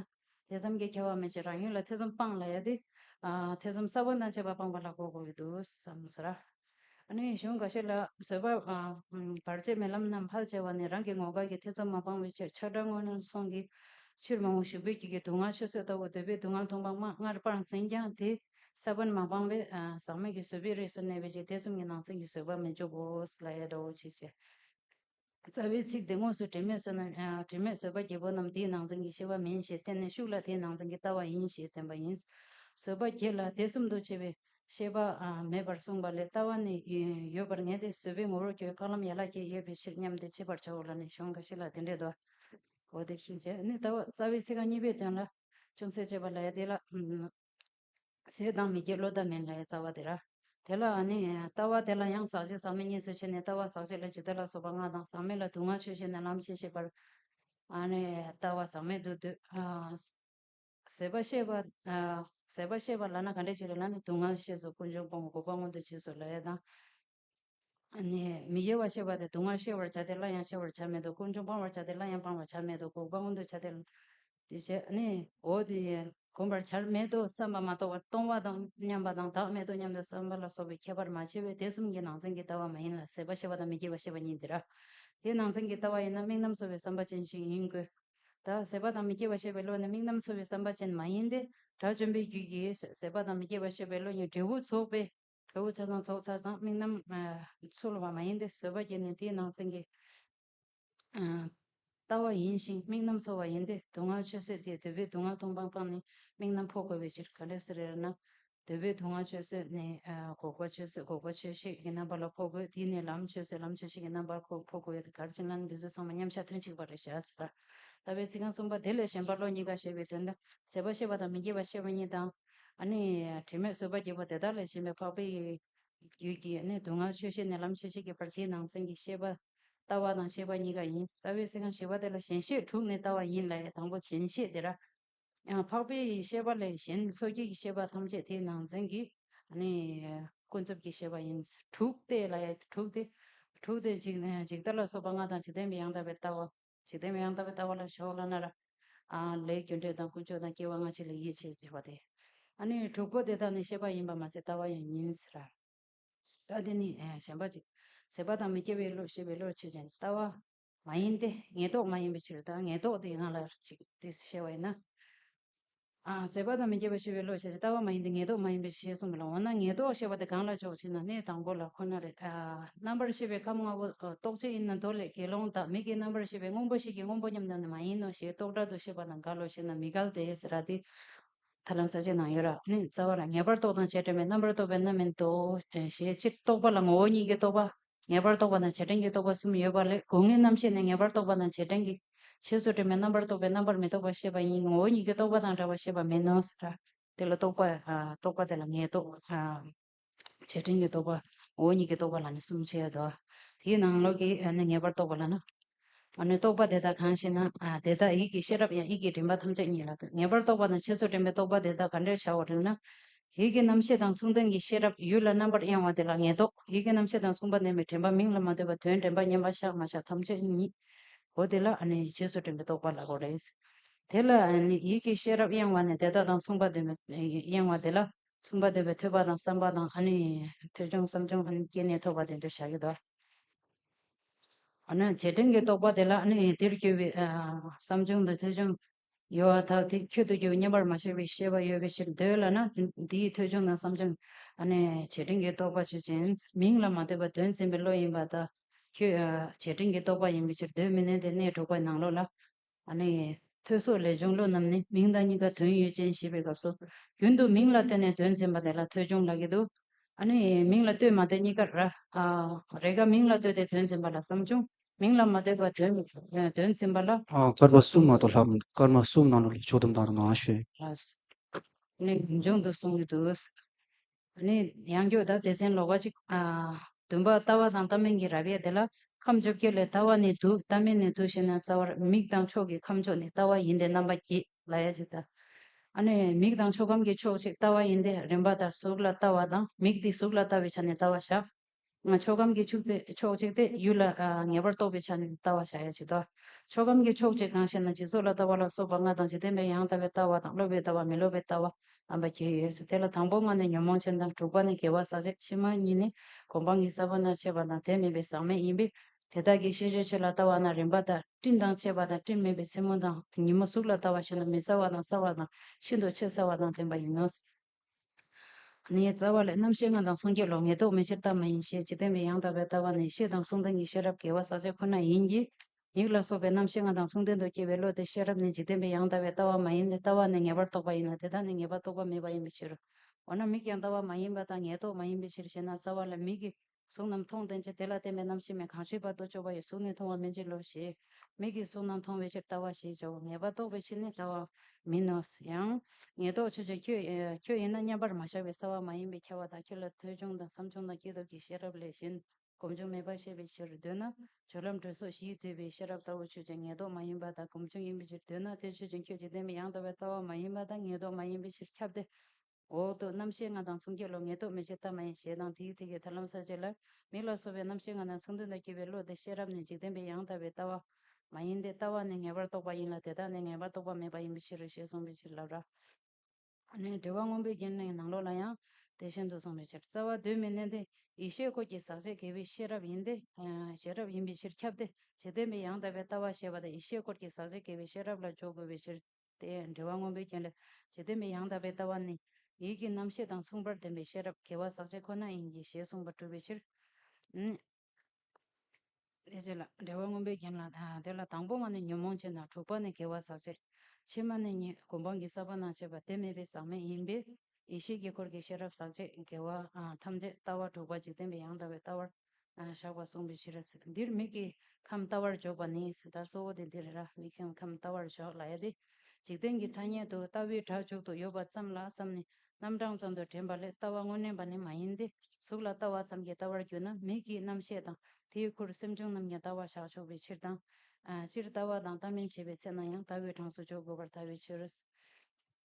A: དེ་བསམ་གྱིས་ཁྱབ་པ་མེད་ཅེས་རང་ཡུལ་ལ་ཐེ་ཚོམ་སྤངས་ལ་ཡ་དེ། ཐེ་ཚོམ་གསར་བ་དང་བཅས་པ་སྤངས་པ་ལ་གོ་དགོས་འདུག་བསམ་ཟེར། ཨ་ནུའི་གཞུང་འགའ་ཤས་ལ་བཟོད་པ། བར་ཆད་མེད་ལམ་རྣམས་ལྷར་བཅས་པ་ནི་རང་གི་ངོ་དགའ་གྱི་ཐེ་ཚོམ་མ་སྤངས་པའི་ཕྱིར་ཆགས་སྒྲ་དངོས་སྣང་སོང་གི་ཕྱིར་མ་འོངས་ཞུ་འབོད་ཀྱི་གི་སྡུག་བསྔལ་ཆོས་བཟོད་ལྟ་བུ་འདོད་པའི་སྡུག་བསྔལ་མཐོང་སྤངས་མ་སྔར་སྤངས་ཟིན་ཀྱང་དེ། ས་བོན་མ་སྤངས་པའི་ཟག་མེད་ཀྱི་བཟོད་པའི་རིགས་སུ་གནས་པའི་ཕྱིར་དེ་གསུམ་གྱི་ནང་ཚན་གྱི་བཟོད་པ་མི་འཇུག་གོ། ལ་ཡའི་དྲ་བོ་ཆིག་ཅེས་རྩ་བའི་ཚིག་དེ་དངོས་སུ་དྲི་མེད་བཟོད་ན་དྲི་མེད་བཟོད་པ་བརྒྱད་པོ་རྣམས་དེའི་ནང་ཚན་གྱི་ཤེས་པ་མིན་ཞེས་བསྟན་ནས་ཤུགས་ལ་དེའི་ནང་ཚན་གྱི་ལྟ་བ་ཡིན་ཞེས་བསྟན་པ་ཡིན། བཟོད་པ་བརྒྱད་ལ་དེ་གསུམ་དུ་བྱས་པའི་ཤེས་པ་མེད་པར་གསུངས་པ་ལས་ལྟ་བ་ནི་ཡོད་པར་ངེས་ཏེ་བཟོད་པའི་ངོ་བོར་ཁྱོད་འཕགས་ལམ་ཡན་ལག་བརྒྱད་ཡོད་པའི་ཕྱིར་སྙམ་སྟེ་འཆད་པར་བྱའོ་ལ་ནི་གཞུང་འགའ་ཞིག་ལ་དེ་འདྲའི་དོ། གོ་བདེ་ཕྱིན་ཅད་ནི་ལྟ་བ་རྩ་བའི་ཚིག་རྐང་གཉིས་པའི་དོན་ལ་ཅུང་ཟད་དཔྱད་པ་ལ་ཡ་དེ་ལ། ཟས་དང་མི་དགེ་བློ་ཐབས་མེད་ལྷའི་རྩ་བ་དེ་ར། དེ་ལ་ནི། ལྟ་བ་དེ་ལ་ཡང་ཟག་བྱེད་ཟག་མེད་གཉིས་སུ་ཕྱེ་ནས་ལྟ་བ་ཟག་བྱེད་ལ་ཇི་ལྟ་ལ་སོགས་པ་ལྔ་དང་ཟག་མེད་ལ་དུག་ལྔ་ཆོས་ཤེས་ནས་ལམ་ཤེས་ཤེས་པར། ལྟ་བ་ཟག་མེད་དུ་འདོད། ཟད་པ་ཤེས་པ། ཟད་པ་ཤེས་པ་ལ་ན་ག་འདྲས་བྱེད་ལ་ལ་ནི་དུག་ལྔ་ཤེས་སོ་ཀུན་འབྱུང་སྤོང་བ་འགོག་པ་མངོན་དུ་བྱས་སོ་ལྷའི་དང། མི་གཡོ་བར་གཤེགས་པ་སྟེ་སྡུག་བསྔལ་གཤེགས་བར་བྱ་སྟེ་སླར་ཡང་གཤེགས་བར་བྱར་མེད་དོ། ཀུན་འབྱུང་སྤང་བར་བྱ་སྟེ་སླར་ཡང་སྤང་བར་བྱར་མེད་དོ། འགོག་པ་མངོན་དུ་བྱ་སྟེ། འོ། གོམས་པར་བྱར་མེད་དོ་བསམ་པ་མ་གཏོགས་པར་སྟོང་བ་དང་མཉམ་པ་དང་བདག་མེད་དོ་སྙམ་དུ་བསམ་པ་ལ་སོགས་པའི་ཁྱད་པར་མ་ཕྱེ་བས་དེ་གསུམ་གྱི་ནང་ཚན་གྱི་ལྟ་བ་མ་ཡིན་ལ་ཟད་པ་ཤེས་པ་དང་མི་སྐྱེ་བ་ཤེས་པ་གཉིས་འདིར། དེའི་ནང་ཚན་གྱི་ལྟ་བ་ཡིན་ན་དམིགས་རྣམ་གསོ་བའི་བསམ་པ་ཅན་ཞིག་ཡིན་དགོས། ད་ཟད་པ་དང་མི་སྐྱེ་བ་ཤེས་པའི་བློ་ནི་དམིགས་རྣམ་གསོ་བའི་བསམ་པ་ཅན་མ་ཡིན་ཏེ། དགྲ་བཅོམ་པའི་རྒྱུད་ཀྱིས་ཟད་པ་དང་མི་སྐྱེ་བ་ཤེས་པའི་བློ་གཉིས་འབྲས་བུ་ཚོགས་པའི་ཁྲོ་བོའི་ཚོགས་དང་ཚོགས་བསགས་ཙམ་མིག་རྣམས་ཚོལ་བ་མ་ཡིན་ཏེ་བཟོད་པ་བསྐྱེད་ནས་དེའི་ནང་ཚན་གྱིས་བལྟ་བ་ཡིན་ཞིང་མིག་རྣམས་ཚོལ་བ་ཡིན་ཏེ་སྡུག་བསྔལ་ཆོས་བཟོད་དེས་འདོད་པའི་སྡུག་བསྔལ་སྟོང་སྤངས་སྤངས་ནས་མིག་རྣམས་འཕོ་དགོས་པའི་ཕྱིར་ག་ལེ་སི་རེར་ན། འདོད་པའི་སྡུག་བསྔལ་ཆོས་བཟོད་ནས་འགོག་པ་ཆོས་བཟོད་འགོག་པ་ཆོས་ཤེས་ཀྱི་རྣམ་པ་ལ་འཕོ་དགོས་དེས་ནས་ལམ་ཆོས་བཟོད་ལམ་ཆོས་ཤེས་ཀྱི་རྣམ་པར་འཕོ་དགོས་ཏེ་གར་བྱིན་རླབས་ནི་འདི་ཚོ་ཚང་མ་མཉམ་གཞག་དོན་གཅིག་པ་རེད་བྱ་ཟེར། ལྟ་བའི་ཚིག་རྐང་གསུམ་པ་དེ་ལས་གཞན་པ་བློ་གཉིས་ཀ་ཞེས་པའི་དོན་དུ་ཟད་པ་ཤེས་པ་དང་མི་སྐྱེ་བ་ཤེས་པ་གཉིས་དང། ནི་དྲི་མེད་བཟོད་པ་རྒྱས་པ་དེ་དག་ལས་གཞན་པའི་འཕགས་པའི་རྒྱུད་ཀྱི་ནི་སྡུག་བསྔལ་ཆོས་ཤེས་ནས་ལམ་ཆོས་ཤེས་ཀྱི་བར་གྱི་ནང་ཚན་གྱི་ཤེས་པ་ལྟ་བ་དང་ཤེས་པ་གཉིས་ཀ་ཡིན་རྩ་བའི་ཚིག་རྐང་བཞི་པ་དེ་ལ་ཞེན་ཤེས་དྲུག་ནི་ལྟ་བ་ཡིན་ལས་དང་པོ་ཞེན་ཤེས་དེ་ར་ཡང་འཕགས་པའི་ཤེས་པ་ལས་གཞན་སོ་སྐྱེ་ཀྱི་ཤེས་པ་ཐམས་ཅད་དེའི་ནང་ཚན་གྱི་ནི་ཀུན་རྫོབ་ཀྱི་ཤེས་པ་ཡིན་དྲུག་སྟེ་ལས་དྲུག་སྟེ། དྲུག་སྟེ། ཇི་ལྟར་ལ་སོགས་པ་ལྔ་དང་ཇི་སྟེ་མི་ཡང་དག་པའི་ལྟ་བ། ཇི་ལྟ་བའི་ཡང་དག་པའི་ལྟ་བ་ལ་ཞོག་ལ་ན། ར་ལའི་རྒྱུ་འབྲས་དང་ཀུན་སྤྱོད་དང་སྐྱེ་བ་སྔ་ཕྱི་ལ་ཡིད་ཆེས་བྱེད་པ་སྟེ། ནི་དྲུག་པོ་དེ་དག་ནི་ཤེས་པ་ཡིན་པར་མ་ཟད་ལྟ་བ་ཡང་ཡིན་ཟེར། ར་ལྟ་དེ་ནི་གཞན་པ་ཅིག། ཟད་པ་དང་མི་སྐྱེ་བའི་བློ་ཤེས་པའི་བློར་ཆོས་ཅན། ལྟ་བ། མ་ཡིན་ཏེ། ངེས་རྟོགས་མ་ཡིན་པའི་ཕྱིར་དང་ངེས་རྟོགས་དེ་སྔ་ལ་གཅིག་དེ་ཤེས་བ་ཡིན་ན། ཨང། ཟད་པ་དང་མི་སྐྱེ་བ་ཤེས་པའི་བློ་ཞེས་བྱ་བ་ལྟ་བ་མ་ཡིན་ཏེ་ངེས་རྟོགས་མ་ཡིན་པའི་ཕྱིར་གསུངས་པ་ལ་འོ་ན་ངེས་རྟོགས་ཤེས་པ་དེ་གང་ལ་འཇོག་ཅེ་ན་གནས་དང་པོ་ལ་ཁོ་ན་རེ། རྣམ་པར་ཤེས་པའི་ཁམས་ལྔ་པོ་རྟོགས་བྱེད་ཡིན་ན་མདོ་ལས་དགེ་སློང་དག་མི་དགེའི་རྣམ་པར་ཤེས་པའི་དངོས་པོ་ཞིག་གིས་དངོས་པོ་སྙམ་ན་ནི་མ་ཡིན་ནོ་ཞེས་རྟོག་སྒྲ་དུ་ཤེས་པ་དང་འགལ་ལོ་ཞེ་ན་མི་འགལ་ཏེ་ཟེར་ར་ཏི། ཐར་ལམ་ས་བཅད་ནང་ཡོད་ར་ནི་རྩ་བ་ལ་ངེས་པར་རྟོགས་དང་བྱེད་འབྲེལ་མེད་རྣམ་པར་རྟོག་པའི་རྣམ་མིན་ཏོ། ཞེས་སྤྱིར་རྟོག་པ་ལ་ངོ་བོ་ཉིད་ཀྱི་རྟོག་པ། ངེས་པར་རྟོགས་པ་དང་བྱེད་དྲན་གྱི་རྟོག་པ་གསུམ་ཡོད་པ་ལས་དགུ་ལྔའི་རྣམ་ཤེས་ནི་ངེས་པར་རྟོགས་པ་དང་བྱེད་དྲན་གྱི། ཞེས་སོགས་དྲི་མའི་རྣམ་པར་རྟོག་པའི་རྣམ་པར་མི་རྟོག་པ་ཤེས་པ་ཡིན་ངོ་བོ་ཉིད་ཀྱི་རྟོག་པ་དང་འདྲ་བར་ཤེས་པ་མིན་ནོ་ཟེར། དེ་ལ་རྟོག་པ། རྟོག་པ་དེ་ལ་ངེས་རྟོག། བྱེད་དྲན་གྱི་རྟོག་པ། ངོ་བོ་ཉིད་ཀྱི་རྟོག་པ་ལ་ནི་གསུམ་བྱེད་དོ། དེའི་ནང་ལོགས་ཀྱི་ནི་ངེས་པར་རྟོགས་པ་ལ་ནི། ཨ་ནུས་རྟོགས་པ་དེ་དག་གང་ཞེ་ན། དེ་དག་ཡིད་ཀྱི་ཤེས་རབ་ཡང་ཡིད་ཀྱི་དྲན་པ་ཐམས་ཅད་ཉིད་ལ་ཐུག་ངེས་པར་རྟོགས་པ་དང་ཆོས་སུ་དྲན་པའི་རྟོག་པ་དེ་དག་ག་འདྲེར་བྱ་བར་རིགས་ན། ཡིད་ཀྱི་རྣམ་ཤེས་དང་མཚུངས་ལྡན་གྱི་ཤེས་རབ་ཡུལ་ལ་རྣམ་པར་གཡེང་བ་དེ་ལ་ངེས་རྟོག་ཡིད་ཀྱི་རྣམ་ཤེས་དང་མཚུངས་པ་ལྡན་པའི་དྲན་པ་མིང་ལ་མ་ལྟོས་པ་དོན་དྲན་པ་མཉམ་པ་བཞག་མ་བཞག་ཐམས་ཅད་ཉིད་དོ་དེ་ལ་ཨ་ནི་ཆོས་སུ་དྲན་པའི་རྟོག་པ་ལ་གོ་རེ། དེ་ལ་ཨ་ནི་ཡིད་ཀྱི་ཤེས་རབ་གཡེང་བ་ནི་དེ་དག་དང་མཚུངས་པ་ལྡན་པའི་གཡེང་བ་དེ་ལ་མཚུངས་པ་ལྡན་པའི་ཐོས་པ་དང་བསམ་པ་དང་ཨ་ནི་ཐོས་བྱུང་བསམ་བྱུང་ཨ་ནི་སྐྱེས་ནས་ཐོབ་པ་དེ་འདྲེར་བྱ་ཡོད་དོ། བྱེད་དོན་གྱི་རྟོག་པ་དེ་ལ་དེར་སྐྱེས་པའི་བསམ་བྱུང་དང་ཐོས་བྱུང་ཡོད་བ་དག་དེ་ཁྱོད་དུ་སྐྱེ་བའི་བསྙེན་པར་མ་བྱས་པའི་ཤེས་པ་ཡོད་པའི་ཕྱིར་འདོད་ལ་ན་དེའི་ཐོས་བྱུང་དང་བསམ་བྱུང་བྱེད་དོན་གྱི་རྟོག་པ་ཆོས་ཅན། མིང་ལ་མ་ལྟོས་པར་དོན་ཟིན་པའི་བློ་ཡིན་པ་དག་ཁྱོད་བྱེད་དོན་གྱི་རྟོག་པ་ཡིན་པའི་ཕྱིར་འདོད་མི་ནུས་ཏེ་གནས་དྲུག་པའི་ནང་ལོགས་ལ་ཨ་ནི། ཐོས་སོགས་ལས་འབྱུང་བློ་རྣམས་ནི་མིང་དང་གཉིས་ཀ་དོན་ཡོད་ཅན་ཞེས་པའི་སྐབས་སོ། རྒྱུན་དུ་མིང་ལ་བལྟོས་ནས་དོན་འཛིན་པ་དེ་ལ་ཐོས་འབྱུང་ལགས་ཀྱི་འདུག། ཨ་ནི། མིང་ལ་བལྟོས་མ་བལྟོས་གཉིས་ཀར། རེས་འགའ་མིང་ལ་བལྟོས་ཏེ་དོན་འཛིན་པ་ལ་བསམ་བྱུང། མིང་ལ་མ་བལྟོས་པར་དོན་འཛིན་པ་ལ། སྐར་མ་གསུམ་མ་གཏོགས་
B: ལྷག་མི་འདུག་སྐར་མ་གསུམ་ནང་ལོ་ལེགས་ཕྱོགས་སྡོམ་དང་ནང་ལྷ་གཞོན། ཨ་
A: ནི། འབྱུང་དུ་གསུངས་ཀྱི་འདུག། དེ་ནས་ཡང་སྐྱོ་དང་དེ་ཟན་ལོ་ག་གཅིག། བདུན་པ་ལྟ་བ་དང་ལྟ་མིན་གྱི་རབ་དབྱེ་དེ་ལ། ཁམས་བཅོ་བརྒྱད་ལས་ལྟ་བ་ནི་དུག་ལྟ་མིན་ནི་དུག་ཤེས་ན་རྩ་བར་མིག་དང་ཕྱོགས་ཀྱི་ཁམས་ཕྱོགས་ནི་ལྟ་བ་ཡིན་ཏེ་རྣམ་པ་བརྒྱད་ལ་ཡ་གཅིག་ལྟ། ཨ་ནི་མིག་དང་ཕྱོགས་ཁམས་ཀྱི་ཕྱོགས་གཅིག་ལྟ་བ་ཡིན་ཏེ་རིམ་པ་ལྟར་གཟུགས་ལ་ལྟ་བ་དང་མིག་དེ་གཟུགས་ལ་ལྟ་བའི་ཆ་ནས་ལྟ་བ་བཞག། ཕྱོགས་ཁམས་ཀྱི་ཕྱོགས་གཅིག་སྟེ་ཡུལ་ལ་ངེས་པར་རྟོག་པའི་ཆ་ནས་ལྟ་བར་བྱ་ཡ་བྱེད་དོ། ཕྱོགས་ཁམས་ཀྱི་ཕྱོགས་གཅིག་གང་ཞེ་ན་སྦྱིན་སོགས་ལ་ལྟ་བ་ལ་སོགས་པ་ལྔ་དང་འཇིག་རྟེན་པའི་ཡང་ལྟ་བའི་ལྟ་བ་དང་སློབ་པའི་ལྟ་བ་མི་སློབ་པའི་ལྟ་བ་རྣམ་པ་བརྒྱད་ཡོད་དེ་ལ་དང་པོ་ལྔ་ནི་ཉོན་མོངས་ཅན་དང་དྲུག་པ་ནི་དགེ་བ་ཟག་བཅས་ཕྱི་མ་གཉིས་ནི་གོ་འཕང་གི་ས་བོན་དང་བཅས་པ་དང་དེ་མིན་པའི་ཟག་མེད་ཡིན་པས་དེ་དག་གི་ཤེས་བྱའི་ཆོས་ལ་ལྟ་བ་ན་རིམ་པ་དང་སྤྲིན་དང་བཅས་པ་དང་སྤྲིན་མེད་པའི་མཚན་མོ་དང་ཉིན་མོ་གཟུགས་ལ་ལྟ་བ་བྱེད་ན་མི་ཟ་བ་དང་ཟ་བ་དང་ཤིན་ཏུ་ཆེས་ཟ་བ་དང་ལྡན་པ་ཡིན་ནོ། ནས་རྩ་བ་ལས་རྣམ་ཤེས་ལྔ་དང་མཚུངས་སྐྱེ་ལོག་ངེས་རྟོག་མེད་ཕྱིར་བལྟ་མ་ཡིན་ཤེས་བྱེད་བསྟན་པའི་ཡང་དག་པའི་ལྟ་བ་ནི་ཤེས་དང་གསུང་དང་གཉིས་ཤེས་རབ་དགེ་བ་ཟག་བཅས་ཁོ་ན་ཡིན་གྱི། མིག་ལ་སོགས་པའི་རྣམ་ཤེས་ལྔ་དང་མཚུངས་ལྡན་དུ་སྐྱེ་བའི་བློ་དེ་ཤེས་རབ་ནི་འཇིག་རྟེན་པའི་ཡང་དག་པའི་ལྟ་བ་མ་ཡིན་ཏེ་ལྟ་བ་ནི་ངེས་པར་རྟོགས་པ་ཡིན་ལ་དེ་དག་ནི་ངེས་པར་རྟོགས་པ་མེད་པ་ཡིན་པའི་ཕྱིར་རོ། འོ་ན་མིག་ཀྱང་ལྟ་བ་མ་ཡིན་པ་དང་ངེས་རྟོག་མ་ཡིན་པའི་ཕྱིར་ཞེ་ན་རྩ་བ་ལ་མིག་གི་གཟུགས་རྣམས་མཐོང་བདེན་ཅིང་དེ་ལ་བརྟེན་པའི་རྣམ་ཤེས་མེད་གང་ཞིག་བར་དོ་སྤྱོད་པ་ཡི་གཟུགས་ནི་མཐོང་བ་མིན་ཅིང་ལོ་ཞེས། མིག་གིས་གཟུགས་རྣམས་མཐོང་བའི་ཕྱིར་ལྟ་བ་ཞེས་བྱའོ་ངེས་པར་རྟོགས་པའི་ཕྱིར་ནི་ལྟ་བ་མིན་ནོ། ཡང། ངེས་རྟོགས་ཆོས་ཅན། ཁྱོད་ཡིན་ན་མཉམ་པར་མ་བཞག་པའི་བསལ་བ་མ་ཡིན་པའི་ཁྱབ་བ་དག་ཁྱོད་ལ་ཐོས་བྱུང་དང་བསམ་བྱུང་དང་སྐྱེས་ཐོབ་ཀྱི་ཤེས་རབ་ལས་གཞན་སྒོམ་བྱུང་མེད་པར་ཤེས་པའི་ཕྱིར་འདོད་ན། སྦྱོར་ལམ་དྲོད་སོགས་བཞིས་བསྡུས་པའི་ཤེས་རབ་ལྟ་བུ་ཆོས་ཅན་ངེས་རྟོགས་མ་ཡིན་པ་དག་སྒོམ་བྱུང་ཡིན་པའི་ཕྱིར་འདོད་ན་དེ་ཆོས་ཅན་ཁྱོད་འཇིག་རྟེན་པའི་ཡང་དག་པའི་ལྟ་བ་མ་ཡིན་པ་དག་ངེས་རྟོགས་མ་ཡིན་པའི་ཕྱིར་ཁྱབ་སྟེ། འོག་ཏུ་རྣམ་ཤེས་ལྔ་དང་མཚུངས་སྐྱེ་བློ་ངེས་རྟོག་མི་བྱེད་ཐབས་མ་ཡིན་ཞེས་དང་དེའི་ཐིག་གིས་ཐར་ལམ་ཟག་བཅས་ལ། མིག་ལ་སོགས་པའི་རྣམ་ཤེས་ལྔ་དང་མཚུངས་དོན་དང་སྐྱེས་པའི་བློ་དེ་ཤེས་རབ་ནི་འཇིག་རྟེན་པའི་ཡང་དག་པའི་ལྟ་བ། མ་ཡིན་ཏེ་ལྟ་བ་ནི་ངེས་པར་རྟོགས་པ་ཡིན་ལ་དེ་དག་ནི་ངེས་པར་རྟོགས་པ་མེད་པ་ཡིན་པའི་ཕྱིར་རོ་ཞེས་གསུངས་པའི་ཕྱིར་ལབ། ར་ནི་འདྲི་བ་སྔོན་པོའི་རྒྱན་ལས་ནང་ལོགས་ལ་ཡང་དེ་བཞིན་དུ་གསུངས་པའི་ཕྱིར་རྩ་བ་དུས་མི་གནས་ཏེ་ཡེ་ཤེས་སྐོར་གྱི་ཟག་བཅས་དགེ་བའི་ཤེས་རབ་ཡིན་ཏེ། ཤེས་རབ་ཡིན་པའི་ཕྱིར་ཁྱབ་སྟེ་འཇིག་རྟེན་པའི་ཡང་དག་པའི་ལྟ་བ་ཞེས་པ་དང་ཡེ་ཤེས་སྐོར་གྱི་ཟག་བཅས་དགེ་བའི་ཤེས་རབ་ལ་འཇོག་དགོས་པའི་ཕྱིར། དེས་འབྲེལ་བ་མངོན་པའི་རྐྱེན་ལས་ཇི་སྟེ་མི་ཡང་དག་པའི་ལྟ་བ་ནི། ཡིད་ཀྱི་རྣམ་ཤེས་དང་མཚུངས་པར་ལྡན་པའི་ཤེས་རབ་དགེ་བ་ཟག་བཅས་ཁོ་ན་ཡིན་གྱི་ཞེས་གསུངས་པ་གྲུབ་པའི་ཕྱིར། དེ་བྱས་ལ་འབྲེལ་བ་མངོན་པའི་རྐྱེན་ལ། དེ་ལ་དང་པོ་བ་ནི་ཉོན་མོངས་ཅན་དང་དྲུག་པ་ནི་དགེ་བ་ཟག་བཅས། ཕྱི་མ་ནི་གཉིས་སྒོམ་སྤང་གི་ས་པ་ན་བྱེད་པ་དེ་མེད་པའི་ཟག་མེད་ཡིན་པས། ཡེ་ཤེས་དཀྱིལ་འཁོར་གྱི་ཤེས་རབ་ཟག་བཅས་དགེ་བ་ཐམས་ཅད་ལྟ་བ་དྲུག་པ་འཇིག་རྟེན་པའི་ཡང་དག་པའི་ལྟ་བར་བཞག་པ་གསུངས་པའི་ཕྱིར་རོ། འདིར་མིག་གིས་ཁམས་བལྟ་བར་འཇོག་པ་ནི་ཟེར་ལྟར་གཙོ་བོ་དེ་འདིར་ར་མིག་གིས་ཁམས་བལྟ་བར་འཇོག་ལ་ཡ་སྟེ། འཇིག་རྟེན་གྱི་ཐ་སྙད་དུ་ལྟ་བའི་སྒྲ་འཇུག་ཏུ་ཡོད་པ་ཙམ་ལ་བསམས་ནས་རྣམ་གྲངས་ཙམ་དུ་དྲན་པ་ལས་ལྟ་བ་དངོས་བསྣན་པ་ནི་མ་ཡིན་ཏེ་གཟུགས་ལ་ལྟ་བ་ཙམ་གྱིས་ལྟ་བར་གྱུར་ན་མིག་གིས་རྣམ་ཤེས་དང་དེའི་ཁུར་སེམས་བྱུང་རྣམས་ཀྱང་ལྟ་བར་བཞག་ཆོག་པའི་ཕྱིར་དང། སྤྱིར་ལྟ་བ་དང་ལྟ་མིན་བྱེད་པའི་ཚེ་ན་ཡང་ལྟ་བའི་གྲངས་སུ་འཇོག་དགོས་པར་ཐལ་བའི་ཕྱིར།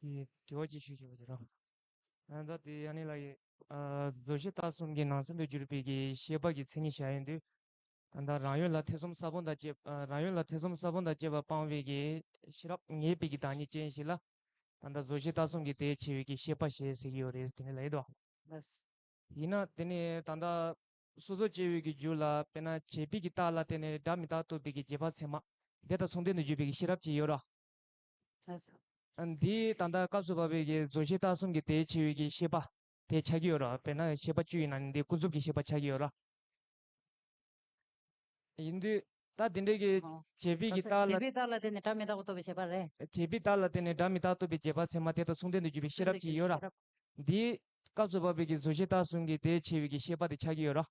C: དྲི་བ་ཅིག་ཞུ་ཞེས་པ་དེ་རེད། ད་ལྟའི་ཡང་ནི་ལ་ཡི། བཟོ་བྱེད་ལྟ་གསུམ་གྱི་ནང་ཚན་དུ་གྱུར་པའི་གི་ཤེས་པ་གྱི་མཚན་ཉིད་གཞན་ཡིན་དུས། ད་ལྟ་རང་ཡུལ་ལ་ཐེ་ཚོམ་ས་བོན་དང་བཅས་རང་ཡུལ་ལ་ཐེ་ཚོམ་ས་བོན་དང་བཅས་པ་སྤངས་བའི་གི་ཤེས་རབ་ངེས་པའི་གི་བདག་ཉིད་ཅན་ཞིག་ལ། ད་ལྟ་བཟོ་བྱེད་ལྟ་གསུམ་གྱི་དེའི་ཆེ་བའི་གི་ཤེས་པ་ཞེས་ཟེར་གྱི་ཡོད་རེད་དེ་ནི་ལ་ཡིན་ཏོ།
A: ཡིན་ན་དེ་
C: ནི་ད་ལྟ་སོ་སོ་སྐྱེ་བོའི་གི་རྒྱུད་ལ་དཔེར་ན་བྱེད་པའི་གི་རྟགས་ལ་བརྟེན་ནས་སྒྲ་མི་རྟག་ཐོབ་པའི་གི་རྗེས་དཔག་ཚད་མ། དེ་དང་མཚུངས་ལྡན་དུ་གྱུར་པའི་གི་ཤེས་རབ་ཅིག་ཡོད་རོ།
A: འདིའི་
C: ད་ལྟ་སྐབས་སུ་བབ་པའི་གི་རྫོགས་ཤེས་རྟགས་གསུམ་གྱི་དེའི་ཕྱི་བའི་གི་ཤེས་པ། དེ་ཆགས་ཀྱི་ཡོད་རོ། དཔེར་ན་ཤེས་པ་བཅུ་ཡིན་ན་ནི་འདིའི་ཀུན་རྫོབ་ཀྱི་ཤེས་པ་ཆགས་ཀྱི་ཡོད་རོ། ཡིན་དུས། རྟགས་དེ་འདྲའི་གྱི། བྱེད་པའི་གྱི་རྟགས་ལ། བྱེད་པའི་རྟགས་ལ་བརྟེན་ནས་སྒྲ་མི་རྟག་
A: པ་ཐོབ་པའི་བྱེད་པ་རེད། བྱེད་པའི་རྟགས་ལ་བརྟེན་ནས་
C: སྒྲ་མི་རྟག་ཐོབ་པའི་བྱེད་པ་ཚད་མ་དེ་དང་མཚུངས་ལྡན་དུ་གྱུར་པའི་ཤེས་རབ་ཅིག་ཡོད་ར། འདིའི། སྐབས་སུ་བབ་པའི་གྱི་བཟོ་ཤེས་རྟགས་གསུམ་གྱི་དེའི་ཕྱེ་བའི་གྱི་ཤེས་པ་དེ་ཆགས་ཀྱི་ཡོད་ར།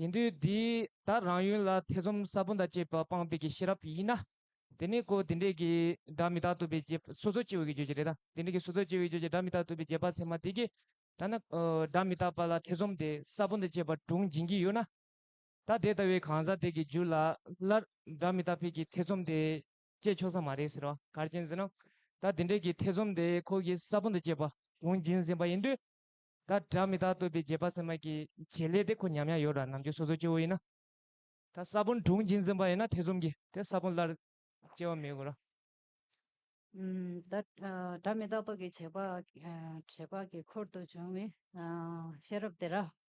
C: ཡིན་དུས་དེའི་དག་རང་ཡུལ་ལ་ཐེ་ཚོམ་ས་བོན་དང་བཅས་པ་སྤངས་པའི་གྱི་ཤེས་རབ་ཡིན་ན། དེ་ནི་གོ་བ་དེ་འདྲའི་གྱི། སྒྲ་མི་རྟག་ཐོབ་པའི་བྱེད། སོ་སོར་སྐྱེ་བའི་གྱི་བརྗོད་བྱ་རེད་ད། དེ་འདྲའི་གྱི་སོ་སོར་སྐྱེ་བའི་བརྗོད་བྱ་སྒྲ་མི་རྟག་ཐོབ་པའི་བྱེད་པ་ཚད་མ་དེ་གྱི། ཐ་ན། སྒྲ་མི་རྟག་པ་ལ་ཐེ་ཚོམ་དེ་ས་བོན་དང་བཅས་པ་དྲུངས་འབྱིན་གྱི་ཡོད་ན། ད་དེ་ལྟ་བུའི་གང་ཟག་དེ་གི་རྒྱུད་ལ་སླར་སྒྲ་མི་རྟག་ཕལ་གྱི་ཐེ་ཚོམ་དེ་སྐྱེས་ཆོག་ས་མ་རེད་ཟེར་བ་གར་གྱིན་ཟིན་ནམ། ད་དེ་འདྲས་ཀྱི་ཐེ་ཚོམ་དེ་ཁོ་གི་ས་བོན་དུ་སྐྱེས་པ་གོང་གྱིན་ཟིན་པ་ཡིན་དུས། ད་སྒྲ་མི་རྟག་ཐོབ་པའི་རྗེས་དཔག་སེམས་མ་གི་བྱེད་ལས་དེ་ཁོ་ཉམས་ཡང་ཡོད་ར་ནམ་རྒྱུ་སོ་སོ་སྐྱེ་བོ་ཡིན་ན། ད་ས་བོན་གྲུང་གྱིན་ཟིན་པ་ཡིན་ན་ཐེ་ཚོམ་གི་དེ་ས་བོན་སླར་སྐྱེ་བ་མི་དགོས་ར། ད་སྒྲ་མི་རྟག་ཐོབ་པའི་བྱེད་དཔག་གི་འཁོར་དུ་བྱུང་བའི་ཤེས་
A: རབ་དེ་ར།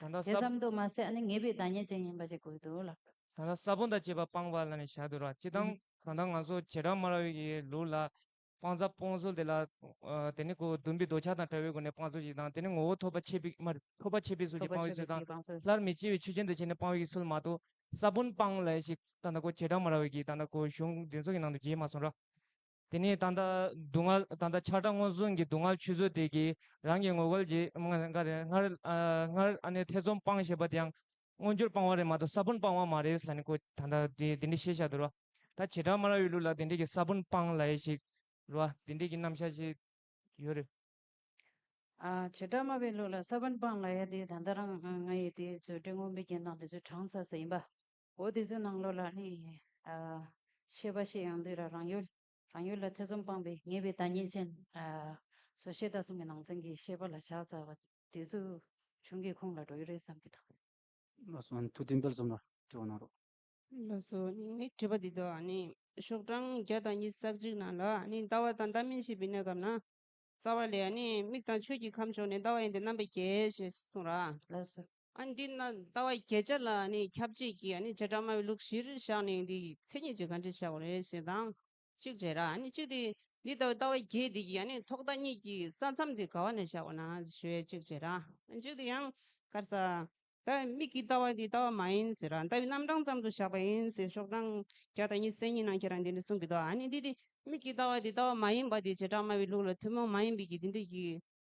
A: དེ་ཙམ་དུ་མ་ཟད་ངེས་པའི་བདག་ཉིད་
C: ཅན་ཡིན་པ་ཞིག་དགོས་འདུག་ལ། ད་ལྟ་ས་བོན་དང་བཅས་པ་སྤངས་པ་ལ་ནི་བྱ་འདོད་ར་ཅི་དང་གང་དང་ང་ཚོ་བྱེ་བྲག་སྨྲ་བའི་ཡི་ལུགས་ལ། སྤངས་རྩ་སྤོང་ཚུལ་དེ་ལ། དེ་ནི་གོ་བདུན་པའི་འདོད་ཆགས་དང་བྲལ་བའི་སྒོ་ནས་སྤངས་ཚུལ་ཞིག་དང་དེ་ནི་ངོ་བོ་ཐོབ་པ་ཆད་པའི་མར་ཐོབ་པ་ཆད་པའི་ཚུལ་གྱིས་སྤང་བའི་ཚུལ་དང། སླར་མི་སྐྱེ་བའི་ཆོས་ཅན་དུ་བྱས་ནས་སྤང་བའི་ཚུལ་མ་གཏོགས་ས་བོན་སྤངས་ལ་ཞིག་ད་ལྟ་གོ་བྱེ་བྲག་སྨྲ་བའི་ཡིད་ད་ལྟ་གོ་གཞུང་འདི་ཚོགས་ཀྱི་ནང་དུ་རྒྱས་མ་སོང་ར། དེ་ནས་ད་ལྟ་སྡུག་བསྔལ་ད་ལྟ་ཆགས་སྡང་མངོན་སུམ་གྱི་སྡུག་བསྔལ་ཆུད་ཟོས་དེ་གྱིས་རང་གི་ངོ་རྒོལ་གྱིས་སྔར་ཨ་ནེ་ཐེ་ཚོམ་སྤངས་ཞེས་པ་དེའང་མངོན་གྱུར་སྤངས་བ་རེད་མ་གཏོགས་ས་བོན་སྤངས་བ་མ་རེད་ལ་ནི་ཀོ་ད་ལྟ་དེ་འདི་འདྲས་ཤེས་བཞག་དུ་རོ། ད་བྱེ་བྲག་མ་ར་ཡི་ལུགས་ལ་དེ་འདྲས་ཀྱི་ས་བོན་སྤངས་ལ་ཡེ་ཤེས་རོ། དེ་འདྲས་ཀྱི་རྣམ་བཞག་ཅིག་ཡོད་རེད། བྱེ་བྲག་
A: མ་བའི་ལུགས་ལ་ས་བོན་སྤངས་ལ་ཡ་དེ་ད་ལྟ་རང་ང་ཡི་དེའི་མཛོད་འགྲེལ་དངོས་འབེལ་གྱི་ནང་དེ་ཚོའི་གྲངས་ཚ་ས་ཡིན་པ། འོ་དེ་ཚོའི་ནང་ལོགས་ལ་ནི། ཤེས་པ་ཞེས་ཡང་འདུས་ར་རང་ཡུལ། རང་ཡུལ་ལ་ཐེ་ཚོམ་སྤངས་པའི་ངེས་པའི་བདག་ཉིད་ཅན། སོ་ཤེས་དག་གསུམ་གྱི་ནང་ཚན་གྱི་ཤེས་པ་ལ་བཞག་རྩ་བ། དེ་ཚོའི་བྱུང་གི་ཁུངས་ལ་འགྲོ་ཡི་རེད་བསམ་གྱི་འདུག། བློ་བཟོ་
B: མཐུ་ལྡན་དཔལ་གསུམ་ལ་དྲི་བ་གནང་རོགས། བློ་བཟོ་
D: ངའི་དྲི་བ་འདི་དག་ནི། ཤོག་གྲངས་བརྒྱ་དང་ཉིས་བརྩེགས་གཅིག་ནང་ལ་ནི་ཟླ་བ་དང་ཟླ་མིན་ཞེས་པའི་གནས་སྐབས་ན། རྩ་བ་ལས་ནི་མིག་དང་ཆོས་ཀྱི་ཁམས་ཕྱོགས་ནས་ཟླ་བ་ཡིན་ཏེ་རྣམ་པའི་རྒྱལ་ཞེས་གསུངས་ར། བློ་བཟོ། ཨ་
A: འདི་ན་ལྟ་བ་
D: བརྒྱད་ཆ་ལ་ཁྱབ་བྱེད་ཀྱི་བྱེ་བྲག་སྨྲ་བའི་ལུགས་བཞིར་བཞག་ནས་འདི་མཚན་ཉིད་ཀྱི་གང་འབྲས་བྱའོ་ཞེས་དང། གཅིག་བྱེ་བྲག་གཅིག་སྟེ་འདི་ལྟ་བུའི་ལྟ་བ་བརྒྱད་འདི་ཀྱི་ཐོག་མཐའ་གཉིས་ཀྱི་ས་མཚམས་དེ་ག་བ་ནས་བཞག་པ་ན་ཞེས་གཅིག་བྱེ་བྲག་གཅིག་དེ་ཡང་དཀར་ས། ལྟ་བའི་མིག་གི་ལྟ་བ་འདི་ལྟ་བ་མ་ཡིན་ཟེར་རང་ལྟ་བའི་རྣམ་གྲངས་ཙམ་དུ་བཞག་པ་ཡིན་ཟེར་ཤོག་གྲངས་བརྒྱ་དང་ཉི་ཟེར་གཉིས་ནང་ཁྱེད་རང་འདི་འདྲ་གསུང་གི་འདུག་ཨ་ནི་འདི་དེ་མིག་གི་ལྟ་བ་འདི་ལྟ་བ་མ་ཡིན་པ་འདི་བྱེ་བྲག་སྨྲ་བའི་ལུགས་ལ་ཐུན་མོང་མ་ཡིན་པའི་གི་འདི་འདོད་ཀྱི།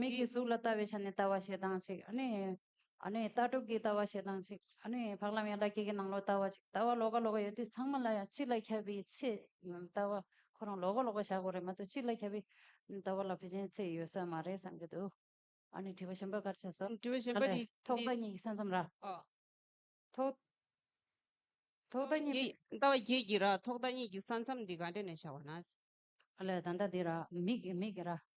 A: མིག་གིས་གཟུགས་ལ་ལྟ་བའི་ཆ་ནས་ལྟ་བ་ཞེ་སྡང་ཅིག། ལྟ་གྲུབ་ཀྱིས་ལྟ་བ་ཞེ་སྡང་ཅིག། བག་ལམ་ཡང་ལ་སྐྱེས་ཀྱི་ནང་ལོག་ལྟ་བ་ཅིག་ལྟ་བ་ལོག་ག་ལོག་ག་ཡོད་དུས་ཚང་མ་ལ་ཡང་གཅིག་ལ་ཁྱབ་པའི་ཚད་ལྟ་བ་ཁོ་རང་ལོག་ག་ལོག་ག་བཞག་གོ་རེད་མ་གཏོགས་གཅིག་ལ་ཁྱབ་པའི་ལྟ་བ་ལ་ཕལ་ཆེན་ཚད་ཡོད་ས་མ་རེད་བསམ་གྱི་འདུག་དྲི་བ་གཞན་པ་གར་ཆགས་སོ། དྲི་བ་གཞན་པ་འདི། ཐོག་མཐའ་
D: གཉིས་ཀྱི་ས་མཚམས་ར།
A: ཐོག་མཐའ་གཉིས། ལྟ་བ་བརྒྱད་ཀྱི་ར་
D: ཐོག་མཐའ་གཉིས་ཀྱི་ས་མཚམས་འདི་ག་འདྲ་ནས་བཞག་པ་ན། ལྟ་བ་བརྒྱད་
A: ཀྱི་ར། མིག་གི་ར།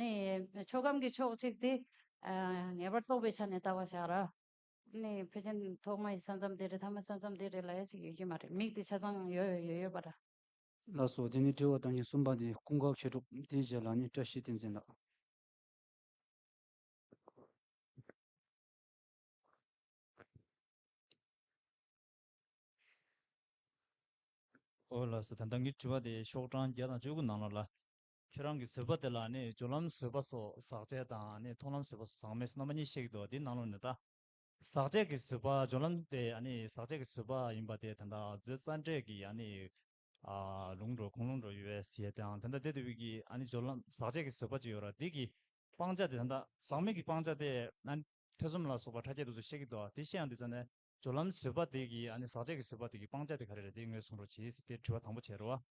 A: ནི། ཆོས་ཁམས་ཀྱི་ཕྱོགས་གཅིག་དེ། ངེས་པར་རྟོགས་པའི་ཆ་ནས་བལྟ་བར་བྱ། ར། ནི། ཕལ་ཆེན་ཐོག་མ་ཡི་ས་མཚམས་དེ་རེད་ཐ་མའི་ས་མཚམས་དེ་རེད་ལ་ཡ་གཅིག་ཡོད་ཀྱི་མ་རེད་མིག་དེ་ཆ་ཚང་ཡོད་ཡོད་ཡོད་ཡོད་པ་འདྲ། ལགས་སོ། དེ་
B: ནས་དྲི་བ་དང་གཉིས་གསུམ་པ་དེ་ཀུན་དགའ་མཁས་གྲུབ་དེའི་རྗེས་ལ་ནི་བཀྲ་ཤིས་བསྟན་འཛིན་ལགས། ཨོ།
E: ལགས་སོ། དེ་ལྟ་ངའི་དྲི་བ་དེ་ཤོག་གྲངས་བརྒྱ་དང་བཅུ་དགུ་ནང་ལོགས་ལ། ཁྱོད་རང་གིས་བཟོད་པ་དེ་ལ་ནི་སྦྱོར་ལམ་བཟོད་པ་སོགས་ཟག་བཅས་དང་ནི་མཐོང་ལམ་བཟོད་པ་སོགས་ཟག་མེད་རྣམ་པ་གཉིས་གཤེགས་འདུག་འདི་སྣང་ལུང་ནི་བལྟ། ཟག་བཅས་ཀྱི་བཟོད་པ་སྦྱོར་ལམ་དེ་ནི་ཟག་བཅས་ཀྱི་བཟོད་པ་ཡིན་པ་དེ་དེ་འདྲ་བཟོད་རྩ་འགྲེལ་གྱི་ནི། ལུང་འགྲོ་གང་ལུང་འགྲོ་ཡོད་པའི་ཞེས་དང་དེ་འདྲ་དེ་དེ་བས་ཀྱི་ནི་སྦྱོར་ལམ་ཟག་བཅས་ཀྱི་བཟོད་པ་ཅི་ཡོད་ར་དེ་ཀྱི། སྤང་བྱ་དེ་དེ་འདྲ་ཟག་མེད་ཀྱི་སྤང་བྱ་དེ་ནི་ཐེ་ཚོམ་ལ་སོགས་པ་ཕྲ་རྒྱས་འདུག་ཚུལ་གཤེགས་འདུག་དེ་བཞིན་ཡང་འདུག་ཚུལ་ནི་སྦྱོར་ལམ་བཟོད་པ་དེ་ཀྱི་ནི་ཟག་བཅས་ཀྱི་བཟོད་པ་དེ་ཀྱི་སྤང་བྱ་དེ་ག་རེ་རེད་དེ་ངོས་བཟུང་རོགས་གྱིས་དེ་དྲི་བ་དང་པོ་བྱས་རོགས།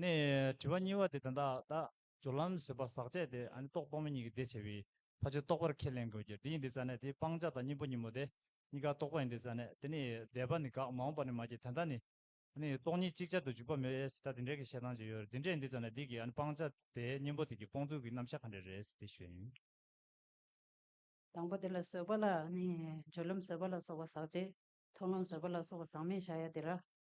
E: ནི། དྲི་བ་གཉིས་པ་དེ་དོན་དག་དག་སྦྱོར་ལམ་བཟོད་པ་ཟག་བཅས་ཏེ་རྟོག་སྤོང་མེད་གཉིས་ཀྱི་ཟླས་ཕྱེ་བའི་ཕ་ཆོས་རྟོགས་པར་ཁས་ལེན་དགོས་ཀྱི་འདི་ཡིན་འདི་རྩ་ནས་དེ་སྤང་བྱ་དང་གཉེན་པོ་གཉིས་མོ་སྟེ་གཉིས་ཀ་རྟོགས་པ་ཡིན་འདི་རྩ་ནས་དེ་ནི་འདས་པ་ནི་དགག་མ་འོངས་པ་ནི་མ་སྐྱེས་དོན་དག་ནི། ནི། སྟོང་ཉིད་ཅིག་ཅར་དུ་འཇུག་པ་མེད་ཨེ་སྲིད་ད་འདི་འདྲའི་གི་བཤད་སྟངས་ཅིག་ཡོད་རེད་འདི་འདྲས་ཡིན་འདི་རྩ་ནས་འདི་གི་སྤང་བྱ་དེའི་གཉེན་པོ་དེ་གི་སྤོང་ཚུལ་གི་རྣམ་བཞག་ག་འདྲས་རེད་འདི་ཞུ་ཡིན། དང་པོ་དེ་ལ་བཟོད་པ་ལ་ནི་སྦྱོར་ལམ་བཟོད་པ་ལ་སོགས་པ་ཟག་
A: བཅས། ཐོབ་ལམ་བཟོད་པ་ལ་སོགས་པ་ཟག་མེད་བཞག་ཡ་དེ་ལ་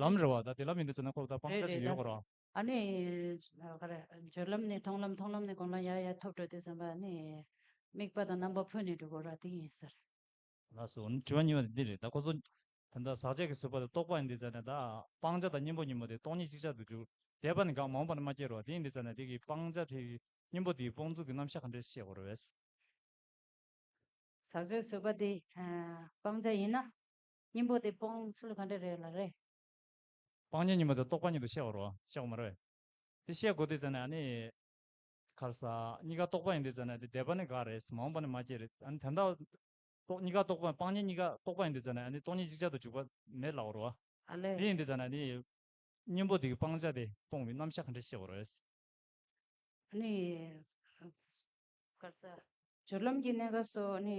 E: ལམ་རེ་བ་དང་དེ་ལ་མི་འདུག་ཟེར་ན་ཁོག་དང་སྤང་བྱ་ཞིག་ཡོད་དགོས་རོགས། ཨ་ནི། བྱོལ་
A: ལམ་ནས་མཐོང་ལམ་མཐོང་ལམ་ནས་དགོན་ལམ་ཡར་ཡར་ཐོབ་འགྲོ་དུས་བསམ་པ་ཨ་ནི། དམིགས་པ་དང་རྣམ་པ་འཕོས་ནས་འགྲོ་དགོས་རོགས་དེ་ཡིན་ཟེར། ལགས་སོ།
E: འདི་དྲི་བ་སྙན་པ་དེ་འདི་རེད་ད་ཁོ་ཚོ། ད་ཟག་བཅས་ཀྱི་བཟོད་པ་དང་རྟོགས་པ་ཡིན་འདི་ཟེར་ན་ད། སྤང་བྱ་དང་གཉེན་པོ་གཉིས་མོ་དེ་སྟོང་ཉིད་གཅིག་ཆར་དུ་འགྱུར། དད་པ་ནི་འགག་མ་འོངས་པ་ན་མ་སྐྱེས་རོགས་དེ་ཡིན་འདི་ཟེར་ན་དེ་གི་སྤང་བྱ་དེ། གཉེན་པོ་དེའི་སྤོང་ཚུལ་གྱི་རྣམ་གཞག་ག་འདྲས་ཤེས་དགོས་རོགས། ཟག་བཅས་
A: བཟོད་པ་དེ། སྤང་བྱ་ཡིན་ན། གཉེན་པོ་དེ་སྤོང་ཚུལ་ག་འདྲ་རེད་ལ་རེད། སྤང་
E: གཉེན་གཉིས་པོ་དེ་རྟོག་པ་གཉིས་དུ་བཤད་པར་རོ་བཤད་གོ་མ་རོ། དེ་བཤད་དགོས་དུས་ཙང་ནས་ཨཱ་ནི། ཁར་ས། གཉིས་ཀ་རྟོག་པ་ཡིན་དུས་ཙང་ནས་དེ་འདས་པ་ནི་འགའ་རེད་མ་འོངས་པ་ནི་མ་སྐྱེས་རེད་ཨཱ་ནི་དེ་འདྲ། རྟོག་གཉིས་ཀ་རྟོག་པ་སྤང་གཉེན་གཉིས་ཀ་རྟོག་པ་ཡིན་དུས་ཙང་ནས་ཨཱ་ནི་རྟོག་གཉིས་ཅིག་ཅར་དུ་འཇུག་པ་མེད་ལགས་རོ། ཨ་ལས། དེ་ཡིན་དུས་ཙང་
A: ནས་ཨཱ་ནི།
E: གཉེན་པོ་དེ་གི་སྤང་བྱ་དེ་སྤོང་བའི་རྣམ་གཞག་ག་འདྲ་ཤེས་པར་རོ། ཨཱ་ནི། ཁར་ས།
A: སྦྱོར་ལམ་གྱི་གནས་སྐབས་སོགས་ཨཱ་ནི།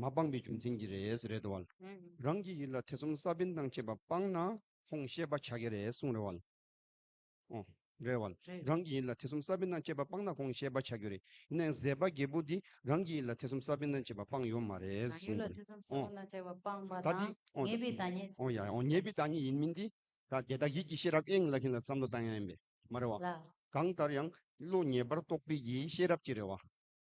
F: མ་སྤངས་པའི་རྒྱུ་མཚན་གྱིས་རེད་རེད་དོ། རང་གི་ཡིད་ལ་ཐེ་ཚོམ་ས་བོན་དང་བཅས་པ་སྤངས་ན་ཁོང་ཤེས་པ་བྱ་གི་རེད་གསུངས་རེད། རང་གི་ཡིད་ལ་ཐེ་ཚོམ་ས་བོན་དང་བཅས་པ་སྤངས་ན་ཁོང་ཤེས་པ་བྱ་གི་རེད། ཡིན་ནའི་ཟད་པ་རྒྱལ་པོ་འདིས་རང་གི་ཡིད་ལ་ཐེ་ཚོམ་ས་བོན་དང་བཅས་པ་སྤངས་ཡོད་མ་རེད་གསུངས་
A: རེད། ད་དེ། ངེས་པའི་
F: བདག་
A: ཉིད། ངེས་པའི་བདག་ཉིད་
F: ཡིན་མིན་འདི། ད་དེ་དག་ཡིད་ཀྱི་ཤེས་རབ་ཨེ་ངེས་ལ་ཁྱེད་ལ་བསམ་བློ་བཏང་ཡ་ཡིན་པས་མ་རེད་བ། གང་ལྟར་ཡང་བློ་
A: ངེས་པར་
F: རྟོགས་པའི་ཡིད་ཤེས་རབ་ཀྱིས་རེད་བ།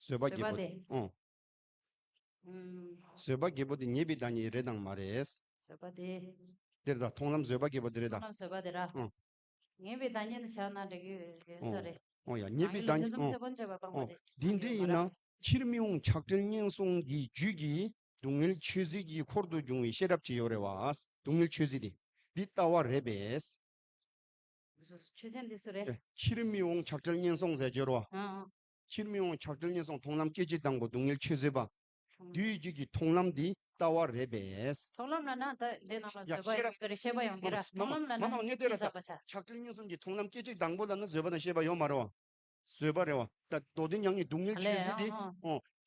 F: བཟོད་པ་བགྱིད་པོ། བཟོད་པ་བགྱིད་པོ་དེ་ཉེས་པའི་བདག་ཉིད་རེད་དང་མ་རེད། བཟོད་པ་དེ།
A: དེར་དང་མཐོང་
F: ལམ་བཟོད་པ་བགྱིད་པོ་དེ་རེད་དང།
A: མཐོང་ལམ་བཟོད་པ་དེ་ར། ཉེས་པའི་བདག་
F: ཉིད་དུ་ཆགས་ན་འགྲིག་གི་ཡོད་ས་རེད། འོང་ཡ། ཉེས་པའི་བདག་ཉིད། འོང། འདི་འདྲ་ཡིན་ན། ཕྱིར་མི་འོང་ཆགས་བྲལ་ངན་སོང་གི་རྒྱུད་ཀྱི་སྡུག་བསྔལ་ཆོས་ཟིལ་གྱི་འཁོར་དུ་འབྱུང་བའི་ཤེས་རབ་ཅི་ཡོད་རེད་བ། སྡུག་བསྔལ་ཆོས་ཟིལ་དེ་འདི་ལྟ་བ་རེད་པས། ཆོས་ཟིལ་
A: འདི་སུ་རེད། ཕྱིར་མི་འོང་ཆགས་
F: བྲལ་ངན་སོང་ཟས་སྦྱོར་བ། ཕྱིར་མི་འོང་ཆགས་བྲལ་ངན་སོང་མཐོང་ལམ་སྐད་ཅིག་དང་པོ་སྡུག་བསྔལ་ཆོས་བཟོད་པ། རྡུལ་གྱི་རྒྱུད་ཀྱི་མཐོང་ལམ་འདི་ལྟ་བ་རེད་པས། མཐོང་ལམ་ལ་ན་ད་
A: དེ་རྣམས་ལ་བཟོད་
F: པ་ཡོང་
A: གི་རེད་ཤེས་པ་ཡོང་གི་ར་མཐོང་ལམ་ལ་ན་ནི་ཅི་བསགས་པ་བྱ།
F: ཆགས་བྲལ་ངན་སོང་གི་མཐོང་ལམ་སྐད་ཅིག་དང་པོ་ལ་ན་བཟོད་པ་དང་ཤེས་པ་ཡོང་མ་རུང་བ། བཟོད་པ་རེད་བ། ད་མདོ་སྡེ་མྱང་ངེས་སྡུག་བསྔལ་ཆོས་བཟོད་དེ།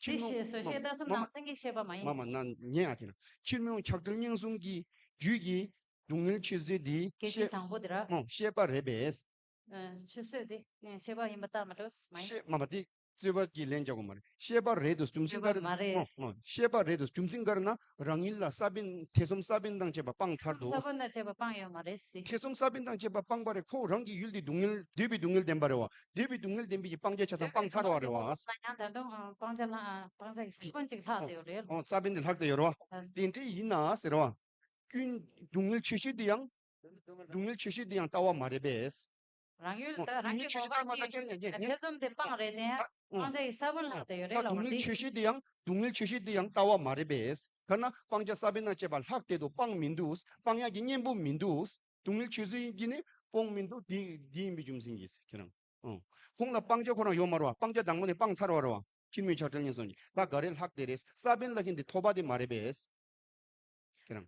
F: ཕྱིར་མི་འོང།
A: མ་མ་མ། མ་མ་ན་ཉན་ཨ་དེ་
F: ར། ཕྱིར་མི་འོང་ཆགས་བྲལ་ངན་སོང་གི་རྒྱུད་ཀྱི་སྡུག་བསྔལ་ཆོས་བཟོད་དེ། སྐད་ཅིག་དང་པོ་དེ་ར།
A: ཤེས་པ་རེད་པས། ཆུད་ཟོས་དེ་ཤེས་པ་ཡིན་པ་ལྟར་མ་སྤྲོས་སུ་མ་ཡིན། ཤེས་མ་པ་དེ་
F: རྩོད་པ་གྱི་ལན་རྒྱག་པ་མ་རེད། ཤེས་པ་རེད་དོ་རྒྱུ་མཚན་ག་རེ་དང་ཤེས་པ་རེད་དོ་རྒྱུ་མཚན་ག་རེ་ན་རང་ཉིད་ལ་ས་པན་ཐེ་ཚོམ་ས་པན་དང་བཅས་པ་སྤངས་ཚར་དོ། ས་པན་དང་བཅས་པ་སྤངས་ཡོད་མ་
A: རེད་ཟེར། ཐེ་ཚོམ་ས་པན་དང་བཅས་པ་
F: སྤངས་པ་རེད་ཁོ་རང་གི་ཡུལ་དེ་སྡུག་བསྔལ་འདོད་པའི་སྡུག་བསྔལ་ལྡན་པ་རེད་བ། འདོད་པའི་སྡུག་བསྔལ་ལྡན་པའི་ཀྱི་སྤང་བྱའི་ཆ་ཚང་སྤངས་ཚར་བ་རེད་བ། འདོད་པའི་སྡུག་བསྔལ་ལྡན་
A: པའི་ཀྱི་སྤང་བྱ་ལ་སྤང་བྱ་ཀྱི་ས་པན་ཅིག་ལྷག་དེ་ཡོད་རེད། ས་
F: པན་དེ་ལྷག་དེ་ཡོད་རེད་བ། དེ་འདྲས་ཡིན་ན་ཟེར་བ། སྐྱོན། སྡུག་བསྔལ་ཆེ་ཤོས་དེ་ཡང་སྡུག་བསྔལ་ཆེ་ཤོས་འདི་ཡང་ལྟ་བ་མ་རེད་པས། རང་ཡུལ་
A: དུ་རང་གི་གོ་འཕང་གི་ཐེ་ཚོམ་དེ་སྤངས་རེ་ལྡན་ཡང་སྤང་བྱ་ཡི་ས་བོན་ལྷག་དེ་ཡོད་རེད་ལ་འོ་འདི། ཆེ་ཤོས་འདི་ཡང་
F: སྡུག་བསྔལ་ཆེ་ཤོས་འདི་ཡང་ལྟ་བ་མ་རེད་པས། ཐ་ན་སྤང་བྱ་ས་བོན་ན་བཅས་པ་ལྷག་དེ་དུ་སྤངས་མི་འདུག་སྤང་ཡག་གི་གཉེན་པོ་མི་འདུག་སྡུག་བསྔལ་ཆེ་ཤོས་འདི་ནི་སྤོང་མི་འདུག་འདི་ཡིན་པའི་རྒྱུ་མཚན་གྱིས་ཁྱེད་རང། ཁོང་ལ་སྤང་བྱ་ཁོ་རང་ཡོད་མ་རུང་བ་སྤང་བྱ་དང་པོ་ནས་སྤངས་ཚར་བ་རུང་བ་ཁྱེད་མོས་ཆགས་བྲལ་ངན་སོང་གི་ད་ག་རེ་ལྷག་དེ་རེད་ས་བོན་ལ་ཁེན་དེ་ཐོབ་པ་དེ་མ་རེད་པས། ཁྱེད་རང།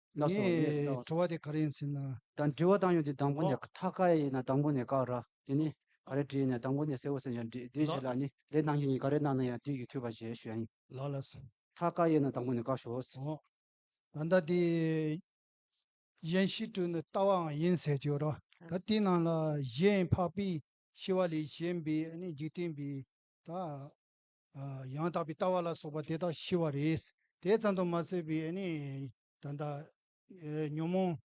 F: ལ་སོགས་ལས་
G: ཀྱི་བྱ་བ། ངས་བྲི་བ་དེ་ག་རེ་ཡིན་ཟེར་ན། དང་འབྲི་བ་དང་ཡོད་དེ་
B: དང་པོ་ནས་མཐའ་ཀ་ཡིན་ན་དང་པོ་ནས་བཀག་ར་དེ་ནི་ག་རེ་བྲིས་ནས་དང་པོ་ནས་གསལ་བོ་ཟེར་ཡང་འབྲི་དེའི་རྗེས་ལ་ནི་ལས་གནང་རྒྱུ་ཡིན་ག་རེ་གནང་ན་ཡང་དུས་ཀྱི་འཐུས་པ་ཞེས་ཞུ་ཡ་ཡིན། ལ་ལ་སོགས། མཐའ་
G: ཀ་ཡིན་ན་དང་
B: པོ་ནས་བཀག་ཞོགས། ད་ལྟ་དེ་
G: གཞན་བཞི་བྲིས་ནས་ལྟ་བའང་ཡིན་ཟེར་གྱི་ཡོད་རོ། ད་དེའི་ནང་ལ་གཞན་འཕགས་པས་ཤི་བ་ལས་གཞན་པའི་འཇིག་རྟེན་པའི་ད། ཡང་དག་པའི་ལྟ་བ་ལ་སོགས་པ་དེ་དག་ཤི་བ་རེད། དེ་ཙམ་དུ་མ་ཟད་པའི་ད་ལྟ་ཉོན་མོངས་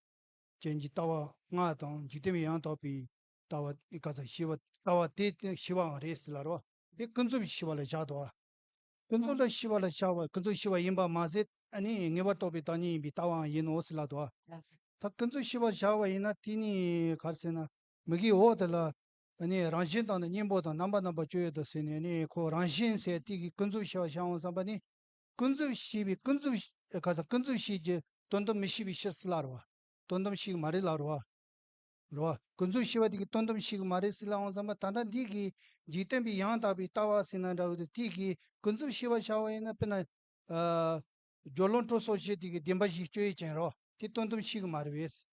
G: ཅན་གྱི་ལྟ་བ་ལྔ་དང་འཇིག་རྟེན་པའི་ཡང་དག་པའི་ལྟ་བ་ཀ་ཙམ་ཤི་བ་ལྟ་བ་དེ་ཤི་བའང་རེད་ཟེར་ལ་རོ། དེ་ཀུན་རྫོབ་ཀྱི་ཤི་བ་ལ་བཞག་ཏོ། ཀུན་རྫོབ་ལ་ཤི་བ་ལ་བཞག་པ་ཀུན་རྫོབ་ཤི་བ་ཡིན་པར་མ་ཟད་ངེས་པར་རྟོགས་པའི་བདག་ཉིད་ཡིན་པའི་ལྟ་བའང་ཡིན་ནོ་ཟེར་ལ་དོ། ད་ཀུན་རྫོབ་ཤི་བ་བཞག་པ་ཡིན་ན་དེ་ནི་ག་རེ་ཟེར་ན་མིག་གིས་འོག་དེ་ལ་ད་ནི་རང་བཞིན་དང་ནི་སྙིང་པོ་དང་རྣམ་པ་རྣམ་པར་སྤྱོད་ཡོད་དོ་ཟེར་ནས་ནི་ཁོ་རང་བཞིན་ཟས་ཏིག་གི་ཀུན་རྫོབ་ཤེས་པར་བྱའོ་བསམ་པ་ནི། ཀུན་རྫོབ་ཤེས་པའི་ཀུན་རྫོབ། ཁ་ཚ་ཀུན་རྫོབ་ཤེས་ཀྱི་དོན་དམ་མི་ཤེས་པའི་ཕྱིར་སྲིད་ལ་རོ། དོན་དམ་ཤེས་ཀྱི་མ་རེད་ལ་རོ། རོ། ཀུན་རྫོབ་ཤེས་པ་ཏིག་གི་དོན་དམ་ཤེས་ཀྱི་མ་རེད་སྲིད་ལའང་བསམ་པ་ད་ལྟ་འདི་གི་འཇིག་རྟེན་པའི་ཡང་དག་པའི་ལྟ་བ་སྲིད་ན་འདྲ་བའི་དུ་ཏིག་གི་ཀུན་རྫོབ་ཤེས་པར་བྱ་བ་ཡིན་ན་དཔེར་ན། སྦྱོར་ལོངས་སྤྲོ་སོགས་ཤེས་ཏིག་གི་བདེན་པ་བཞིའི་སྤྱོད་ཡུལ་ཅན་རོ། དེ་དོན་དམ་ཤེས་ཀྱི་མ་རེད་བས།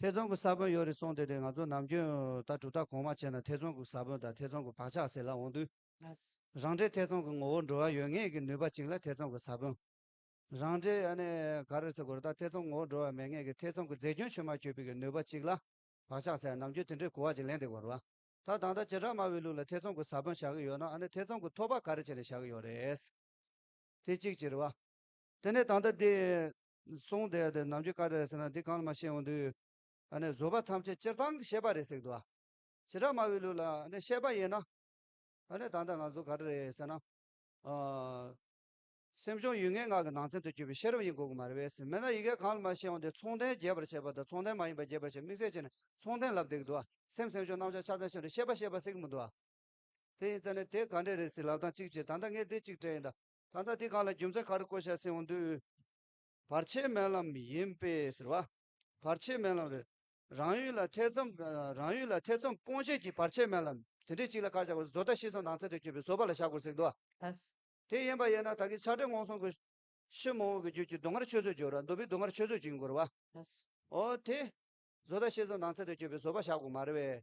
F: ཐེ་ཚོམ་གྱི་ས་བོན་ཡོད་རེད་གསུངས་དེ་དེ་ང་ཚོ་ནམ་རྒྱུན་ལྟར་གྲུབ་མཐའ་གོང་མ་བྱས་ན་ཐེ་ཚོམ་གྱི་ས་བོན་དང་ཐེ་ཚོམ་གྱི་བག་ཆགས་ཟེར་ལ་འོང་དུས། རང་འདྲའི་ཐེ་ཚོམ་གྱི་ངོ་བོར་འགྲོ་བ་ཡོད་ངེས་ཀྱི་ནུས་པ་གཅིག་ལ་ཐེ་ཚོམ་གྱི་ས་བོན། རང་འདྲའི་ཡ་ནས་ག་རེ་ཟེར་དགོས་རེད་ད་ཐེ་ཚོམ་ངོ་བོར་འགྲོ་བ་མེད་ངེས་ཀྱི་ཐེ་ཚོམ་གྱི་རྫས་སྐྱོན་ཆུད་མ་ཆུད་པའི་གི་ནུས་པ་གཅིག་ལ་བག་ཆགས་ཟེར་ཡང་ནམ་རྒྱུན་དེ་འདྲའི་གོ་བ་ཅིག་ལེན་དེ་དགོས་རེད། ད་ད་ལྟ་བྱེ་བྲག་སྨྲ་བའི་ལུགས་ལ་ཐེ་ཚོམ་གྱི་ས་བོན་བཞག་གི་ཡོད་ན་ཨ་ནི་ཐེ་ཚོམ་གྱི་ཐོབ་པ་ག་རེ་བྱས་ནས་བཞག་གི་ཡོད་རེད། དེ་གཅིག་གཅིག་རེད་བ། དེ་ནས་ད་ལྟ་འདི་གསུངས་དེ་དེ་ནམ་རྒྱུན་བཀའ་སྒྲ་རེད་ཟེར་ན་འདི་གང་ལ་མ་ཤེས་འོང་དུས། ཨ་ནི་བཟོ་པ་ཐམས་ཅད་སྤྱིར་བཏང་གི་བཤད་པ་རེད་ཟེར་གི་འདུག་ཨ། བྱེ་བྲག་སྨྲ་བའི་ལུགས་ལ་ཨ་ནི་བཤད་པ་ཡིན་ན། ཨ་ནི་ད་ལྟ་ང་ཚོ་ག་འདྲ་རེད་ཟེར་ན། ཨ། སེམས་བྱུང་ཡུལ་ངེས་ངག་གི་ནང་ཚན་དུ་གྱུར་པའི་ཤེས་རབ་ཡིན་དགོས་ཀྱི་མ་རེད་བས་ཟེར་མེད་ན་ཡི་གེ་གང་ལ་མ་ཤེས་འོང་དུས་མཚུངས་ལྡན་རྒྱས་པར་བྱས་པ་དང་མཚུངས་ལྡན་མ་ཡིན་པ་རྒྱས་པར་བྱས་དམིགས་བསལ་བྱས་ནས་མཚུངས་ལྡན་ལབ་བསྡད་ཀྱི་འདུག་ཨ་སེམས་སེམས་བྱུང་རྣམ་གཞག་ཆ་ཚང་ཤེས་ནས་ཤེས་པ་ཤེས་པ་ཟེར་གྱི་མི་འདུག་ཨ། དེ་ཡིན་ཙང་ནི་དེ་ག་འདྲས་རེད་ཟེར་ལབ་དང་གཅིག་བྱས་ད་ལྟ་ངས་དེ་གཅིག་དྲན་ཡིན་ད་ད་ལྟ་དེ་གང་ལ་རྒྱུ་མཚན་ག་རེ་བཀོད་བྱས་ཟིན་འོང་དུས། བར་ཆད་སྨན་ལམ་ཡིན་པས་ཟེར་བ། བར་ཆད་སྨན་ལམ་རེད། རང་ཡུལ་ལ་ཐེ་ཚོམ། རང་ཡུལ་ལ་ཐེ་ཚོམ་སྤོང་བྱེད་ཀྱི་བར་ཆད་སྨན་ལམ། དེ་འདྲའི་གཅིག་ལ་ཁར་བཞག་དགོས་བཟོ་ལྟ་ཤི་སོང་ནང་ཚན་དུ་བསྐྱོད་པའི་བཟོ་པ་ལ་བཞག་དགོས་ཟེར་འདུག་ཨ། དེ་ཡིན་པ་ཡིན་ན་ད་གིན་ཆ་འགྲིག་མོང་སོང་དགོས། ཤི་མོང་བོ་གི་རྒྱུད་ཀྱི་སྡུག་བསྔལ་ཆོས་ཚོད་སྦྱོར་ར་འདུག་པས་སྡུག་བསྔལ་ཆོས་ཚོད་བྱིན་དགོས་ར་བ། ཨ། ཨོ་དེ། བཟོ་ལྟ་ཤི་སོང་ནང་ཚན་དུ་བསྐྱོད་པའི་བཟོ་པ་བཞག་དགོས་མ་རེད་བས།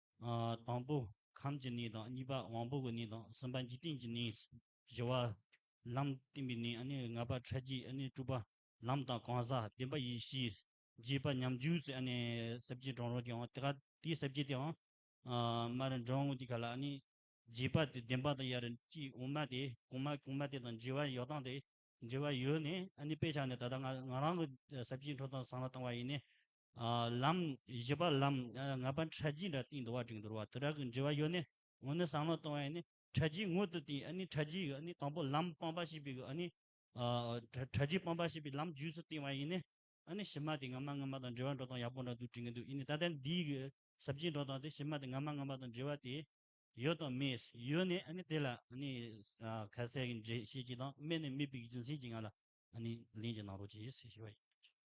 E: དང་པོ་ཁམས་ཀྱི་གནས་དང་གཉིས་པ་དབང་པོ་གི་གནས་དང་གསུམ་པ་འཇིག་རྟེན་གྱི་གནས། བཞི་བ། ལམ་བསྟན་པའི་གནས་ནི་ལྔ་པ་ཕྲ་རྒྱས་དྲུག་པ། ལམ་དང་གང་ཟག་བདེན་པ་ཡེ་ཤེས། བརྒྱད་པ་ཉམས་འགྱུར་ཚེ་ཟབ་རྒྱས་འབྲང་རོ་ཀྱང་དེ་ཀ་དེའི་ཟབ་རྒྱས་དེའང། མ་རི་འབྲང་ངོ་དེ་ཀ་ལ་ནི། བརྒྱད་པ་དེ་བདེན་པ་དང་ཡར་གྱི་དབུ་མ་དེ་གོང་མ་གོང་མ་དེ་དང་འབྲེལ་བ་ཡོད་སྟངས་དེ་འབྲེལ་བ་ཡོད་ནས་དཔེ་ཆ་ནས་ད་ལྟ་ང་རང་གི་ཟབ་རྒྱས་འཕྲོ་དང་ཚང་ལ་བཏང་བ་ཡིན་ནས། ལམ། བཞི་པ་ལམ། ལྔ་པ་ཁྲལ་རྒྱུའི་འདྲ་སྟེང་འདུ་བ་འགྲིག་འདུར་བ་དུ་དྲག་གི་འབྲེལ་བ་ཡོད་ནི། ངོ་ནི་བསམ་བློ་གཏོང་བའི་ནི། ཁྲལ་རྒྱུའི་ངོ་དུ་དེ་ནི་ཁྲལ་རྒྱུའི་ནི་དང་པོ་ལམ་སྤངས་པ་ཞེས་པའི་གི་ནི། ཁྲལ་རྒྱུའི་སྤངས་པ་ཞེས་པའི་ལམ་རྒྱུས་སུ་བསྟན་བ་ཡིན་ནི། བཞི་མ་དེ་སྔ་མ་སྔ་མ་དང་འབྲེལ་བ་འགྲོ་སྟངས་ཡག་པོ་འདྲ་འདུག་འགྲིག་གི་འདུག་ཡིན་ནི་ད་ལྟའི་འདིའི་གི་ཟབ་ཆའི་འགྲོ་སྟངས་དེ་བཞི་མ་དེ་སྔ་མ་སྔ་མ་དང་འབྲེལ་བ་དེ། ཡོད་དང་མེད། ཡོད་ནི་ནི་དེ་ལ་ནི། ག་ཚད་ཀྱི་འབྲེལ་བཤད་ཀྱི་དང་མེད་ནི་མེད་པའི་གི་རྒྱུ་མཚན་གྱི་ང་ལ་ནི་ལན་གྱི་ནང་རོ་གྱིས་ཞེས་བྱ་བ་ཡིན།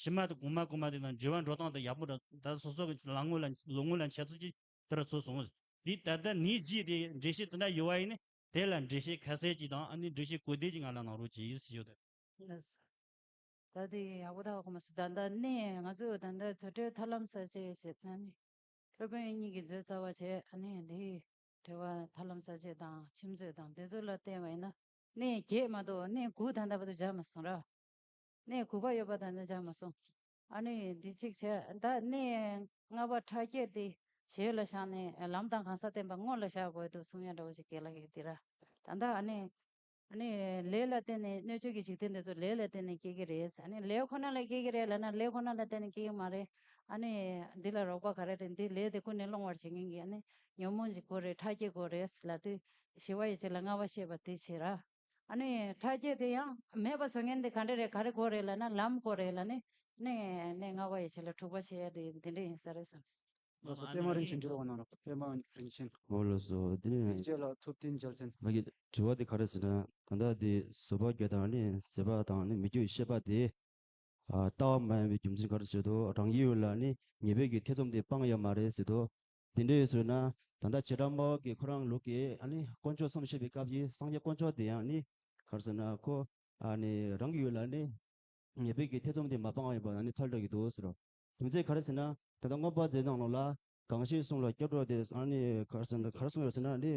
E: ཕྱི་མ་དང་གོང་མ་གོང་མ་དེ་དང་འབྲེལ་བ་འགྲོ་སྟངས་དེ་ཡག་པོ་འདྲ་ད་སོ་སོ་གི་ལག་དངོས་ལ་ལོ་དངོས་ལ་འཆད་ཚུལ་གྱིས་དེ་རུ་ཚུད་སོང། དེ་ད་ལྟ་ནིས་བརྗེས་ཏེ་འགྲེལ་བཤད་དེ་འདྲ་ཡོད་བ་ཡིན་ནི་དེ་ལ་འགྲེལ་བཤད་ཁ་གསལ་གྱིས་དང་ཨ་ནི་འགྲེལ་བཤད་གོ་བདེ་གྱིས་ང་ལ་གནང་རོགས་བྱེད་ཞེས་ཞུ། ལགས་སོ།
A: ད་དེ་ཡག་པོ་ད་གོ་མ་སོང་ད་ལྟ་ནི་ང་ཚོས་ད་ལྟ་བཟོ་གྲྭའི་ཐབས་ལམ་གསར་བརྗེ་བྱེད་ད་ནི་སློབ་དཔོན་གཉིས་ཀྱིས་མཛོད་རྩ་བ་བྱས་ཨ་ནི་དེའི་འགྲེལ་བ་ཐབས་ལམ་གསར་བརྗེ་དང་ཁྱིམ་མཛོད་དང་བདེ་མཛོད་ལ་བརྟེན་བ་ཡིན་ན་ནི་བརྒྱད་མ་གཏོགས་ནི་དགུ་ད་ལྟ་བར་དུ་སྦྱར་མ་སོང་ར། གནས་དགུ་པ་ཡོད་པ་དང་ནི་སྦྱར་མ་སོང། ཨ་ནི་འདི་ཅིག་བྱས་བདག་གནས་ལྔ་པ་ཕྲ་རྒྱས་ཏེ་བྱས་ལ་བཞག་ནས་ལམ་དང་གང་ཟག་བསྟན་པ་དངོས་ལ་བཞག་དགོས་དུ་གསུང་ཡང་འདྲ་བོ་ཅིག་གེ་ལ་གེ་འདི་ར་ད་ལྟ་ཨ་ནི། ཨ་ནི་ལས་ལ་བརྟེན་ནས་སྣོད་བཅུད་ཀྱི་འཇིག་རྟེན་འདི་ཚོ་ལས་ལ་བརྟེན་ནས་སྐྱེ་གི་རེད་ཨ་ནི་ལས་ཁོ་ན་ལ་སྐྱེ་གི་རེད་ལ་ན་ལས་ཁོ་ན་ལ་བརྟེན་ནས་སྐྱེ་གི་མ་རེད་ཨ་ནི། འདི་ལ་རོགས་པ་ག་རེ་རེད་འདི་ལས་དེ་ཀུན་ནས་སློང་བར་བྱེད་མཁན་གྱི་ཨ་ནི་ཉོན་མོངས་ཀྱི་སྒོ་རེད་ཕྲ་རྒྱས་སྒོ་རེད་ལ་དུས་ཞི་བ་ཡི་ཕྱིར་ལ་ལྔ་བ་བཤད་པ་དེའི་ཕྱིར་ར། ནི་ཕྲ་རྒྱས་དེ་ཡང་མེད་པ་བཟོ་མཁན་དེ་ག་འདྲ་རེད་ག་རེ་གོ་རེད་ལ་ན་ལམ་གོ་རེད་ལ་ནི་གནས་གནས་ལྔ་པ་ཡི་ཆེད་ལ་དྲུག་པ་ཞེས་དེ་འདི་འདྲ་ཡིན་ས་རེད་བསམ། ལ་སོགས་པད་མ་རིན་ཆེན་འདྲི་བ་
B: གནང་རོགས་པད་མ་རིན་ཆེན། འོ་ལ་སོགས་དེ་
H: ནས། དེའི་རྗེས་ལ་ཐུབ་བསྟན་འཇལ་
B: ཟེར། ང་གི་དྲི་བ་དེ་ག་
H: རེད་ཟེར་ན་ད་ལྟ་དེ་བཟོད་པ་བསྐྱོད་དང་ནི་ཟད་པ་དང་ནི་མི་བསྐྱོད་ཤེས་པ་དེ། ལྟ་བ་མ་ཡིན་པའི་རྒྱུ་མཚན་ག་རེ་ཟེར་དོ་རང་ཡིད་ཡུལ་ལ་ནི་ངེས་པའི་གི་ཐེ་ཚོམ་དེ་སྤང་ཡ་མ་རེད་ཟེར་དོ། དེ་འདྲའི་ཚུལ་ན་ད་ལྟ་བྱེ་བྲག་མ་འོག་གི་ཁོ་རང་ལུགས་ཀྱི་དཀོན་མཆོག་གསུམ་བཤད་པའི་སྐབས་ཀྱི་སངས་རྒྱས་དཀོན་མཆོག་དེ་ཡང་ནི་གར་སོང་ན་ཁོ་རང་གི་ཡུལ་ལ་ནི་ངེས་པའི་གི་ཐེ་ཚོམ་དེ་མ་སྤངས་ཡོད་པ་ནི་ཐལ་དྲགས་ཀྱི་འདུག་ཟེར་རོ། རྒྱུ་མཚན་ག་རེ་ཟེར་ན་ད་ལྟ་མངོན་པ་མཛད་སྣང་ལུགས་ལ་གང་ཞིག་གསུངས་ལ་སྐྱབས་གྲོགས་དེ་གར་སོང་ཡོད་ཟེར་ན་ནི།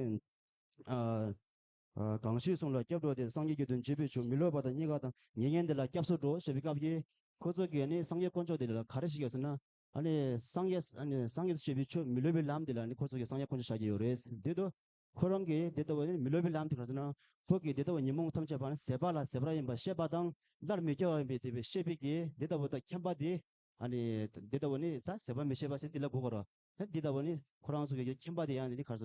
H: གང་ཞིག་གསུངས་ལ་སྐྱབས་གྲོགས་དེ་སངས་རྒྱས་ཀྱི་དོན་བྱེད་པའི་ཆོས་མི་ལོད་པ་དང་གཉིས་ཀ་དང་ཉེ་ཉེ་འདི་ལ་སྐྱབས་སུ་འགྲོ་ཞེས་པའི་སྐབས་ཀྱི་ཁོ་ཚོ་གིས་ནི་སངས་རྒྱས་དཀོན་མཆོག་དེ་ལ་ག་རེ་ཞིག་ཡོད་ཟེར་ན་སངས་རྒྱས་བྱེད་པའི་ཆོས་མི་ལུས་པའི་ལམ་དེ་ལ་ཁོ་ཚོ་གིས་སངས་རྒྱས་ཁོ་ན་བྱ་གི་ཡོད་རེད་དེ་དུས་ཁོ་རང་གིས་དེ་ལྟ་བུའི་མི་ལུས་པའི་ལམ་དེ་ག་ཚོད་ན་ཁོ་གིས་དེ་ལྟ་བུའི་ཉོན་མོངས་ཐམས་ཅད་པ་ཟད་པ་ལ་ཟད་པ་ཡིན་པར་ཤེས་པ་དང་སླར་མི་སྐྱེ་བ་ཡིན་པའི་དེ་བས་ཤེས་པས་ཀྱིས་དེ་ལྟ་བུ་དག་མཁྱེན་པ་དེས། དེ་ལྟ་བུ་ནི་ད་ཟད་པ་མི་ཤེས་པ་ཞིག་འདི་ལ་གོ་དཀའ་རོ། དེ་ལྟ་བུ་ནི་ཁོ་རང་ཚོ་གིས་མཁྱེན་པ་དེ་ཡང་ག་ཚོད་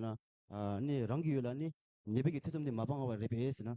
H: ན་རང་གི་ཡུལ་ལ་ནི་ཉེས་པའི་ཐེ་ཚོམ་དེ་མ་སྤངས་བ་རེད་པས་ཟེར་ན།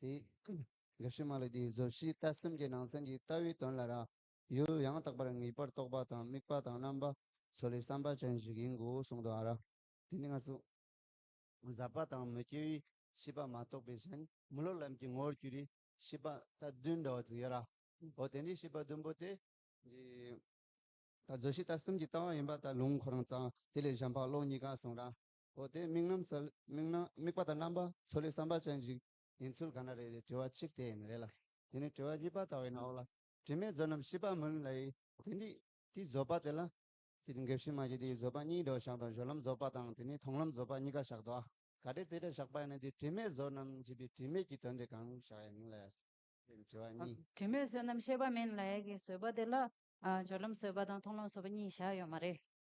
F: དེ་ལས་ཕྱི་མ་ལ་དེའི་གཟུགས་གཞི་ལྟ་སེམས་ཀྱི་ནང་ཚན་གྱི་ལྟ་བའི་དོན་ལ་ར་ཡོད་ཡང་དག་པར་ངེས་པར་རྟོག་པ་དང་དམིགས་པ་དང་རྣམ་པ་ཚོ་ལས་བསམ་པ་ཅན་ཞིག་ཡིན་དགོས་གསུངས་འདུག་ཨ་ར། དེ་ནི་ང་ཚོ། བཟའ་བ་དང་མི་སྐྱེ་བའི་ཤེས་པ་མ་རྟོགས་པའི་ཕྱིན། མི་སློབ་ལམ་གྱི་ངོ་བོར་གྱུར་པའི་ཤེས་པ་ལྟ་བདུན་འདྲ་བ་ཅིག་ཡོད་ར། འོ་དེ་འདྲའི་ཤེས་པ་བདུན་པོ་དེ། འདི་ལྟར་གཟུགས་གཞི་ལྟ་སེམས་ཀྱི་ལྟ་བ་ཡིན་པ་ལྟར་ལུང་ཁོ་རང་ཙང་དེ་ལས་གཞན་ཕག་ལོག་གཉིས་ཀ་གསུངས་ར། འོ་དེ་དམིགས་རྣམ་གསལ། དམིགས་རྣམ་དམིགས་པ་དང་རྣམ་པ་ཚོ་ལས་བསམ་པ་ཅན་ཞིག་ཡིན་ཚུལ་ག་འདྲ་རེད་དེ་དྲི་བ་གཅིག་དེ་ཡིན་རེད་ལ། དེ་ནས་དྲི་བ་གཉིས་པ་ལྟ་བའི་ནང་ལ། དྲི་མེད་བཟོད་རྣམ་ཤེས་པ་མུན་ལ་ཡི། དེ་འདི་དེའི་བཟོད་པ་དེ་ལ། དེ་འདི་འགེབས་ཤིང་མ་གྱུར་དེའི་བཟོད་པ་གཉིས་དོ་བཞག་དང་བཞོད་ལམ་བཟོད་པ་དང་དེ་ནས་མཐོང་ལམ་བཟོད་པ་གཉིས་ཀ་བཞག་དོ། ག་དེ་དེ་འདྲ་བཞག་པ་ཡིན་ན་དེ་དྲི་མེད་བཟོད་རྣམ་ཞེས་པའི་དྲི་མེད་ཀྱི་དོན་དེ་གང་བཞག་ཡིན་ལ། དེ་ནས་དྲི་བ་གཉིས། དྲི་མེད་བཟོད་རྣམ་
A: ཤེས་པ་མིན་ལ་ཡི་གི་བཟོད་པ་དེ་ལ། བཞོད་ལམ་བཟོད་པ་དང་མཐོང་ལམ་བཟོད་པ་གཉིས་བཞག་ཡོད་མ་རེད།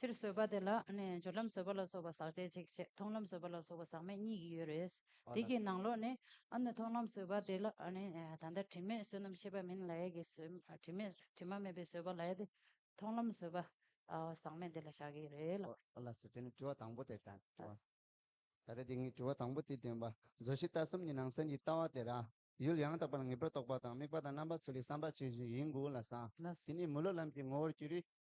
F: ཕྱིར་བཟོད་པ་དེ་ལ་ནི་སྦྱོར་ལམ་བཟོད་པ་ལ་སོགས་པ་ཟག་བཅས་གཅིག་བྱེད་མཐོང་ལམ་བཟོད་པ་ལ་སོགས་པ་ཟག་མེད་གཉིས་ཀྱི་ཡུལ་རེད། དེ་ཀྱི་ནང་ལོགས་ནི། མཐོང་ལམ་བཟོད་པ་དེ་ལ་ནི་ད་ལྟ་དྲི་མེད་བསོད་ནམས་ཤེས་པ་མིན་ལ་ཡས་ཀྱི་བཟོད། དྲི་མེད་དྲི་མ་མེད་པའི་བཟོད་པ་ལ་ཡས་ཏེ། མཐོང་ལམ་བཟོད་པ། ཟག་མེད་དེ་ལ་བཞག་གི་རེད་ལ། དེ་ནི་དྲི་བ་དང་པོ་དེ་དྲི་བ། ད་ལྟ་དེ་ངས་དྲི་བ་དང་པོ་དེ་འདོན་པ། བཟོད་ཤེས་ལྟ་གསུམ་གྱི་ནང་སེམས་ཀྱི་ལྟ་བ་དེ་རང། ཡུལ་ཡང་དག་པར་ངེས་པར་རྟོགས་པ་དང་དམིགས་པ་དང་རྣམ་པ་ཚུལ་ལས་བསམ་པ་ཇི་བཞིན་ཡིན་དགོས་ལ་བཟང། དེ་ནི་མི་སློབ་ལམ་གྱི་ངོ་བོར་གྱུར་རིགས།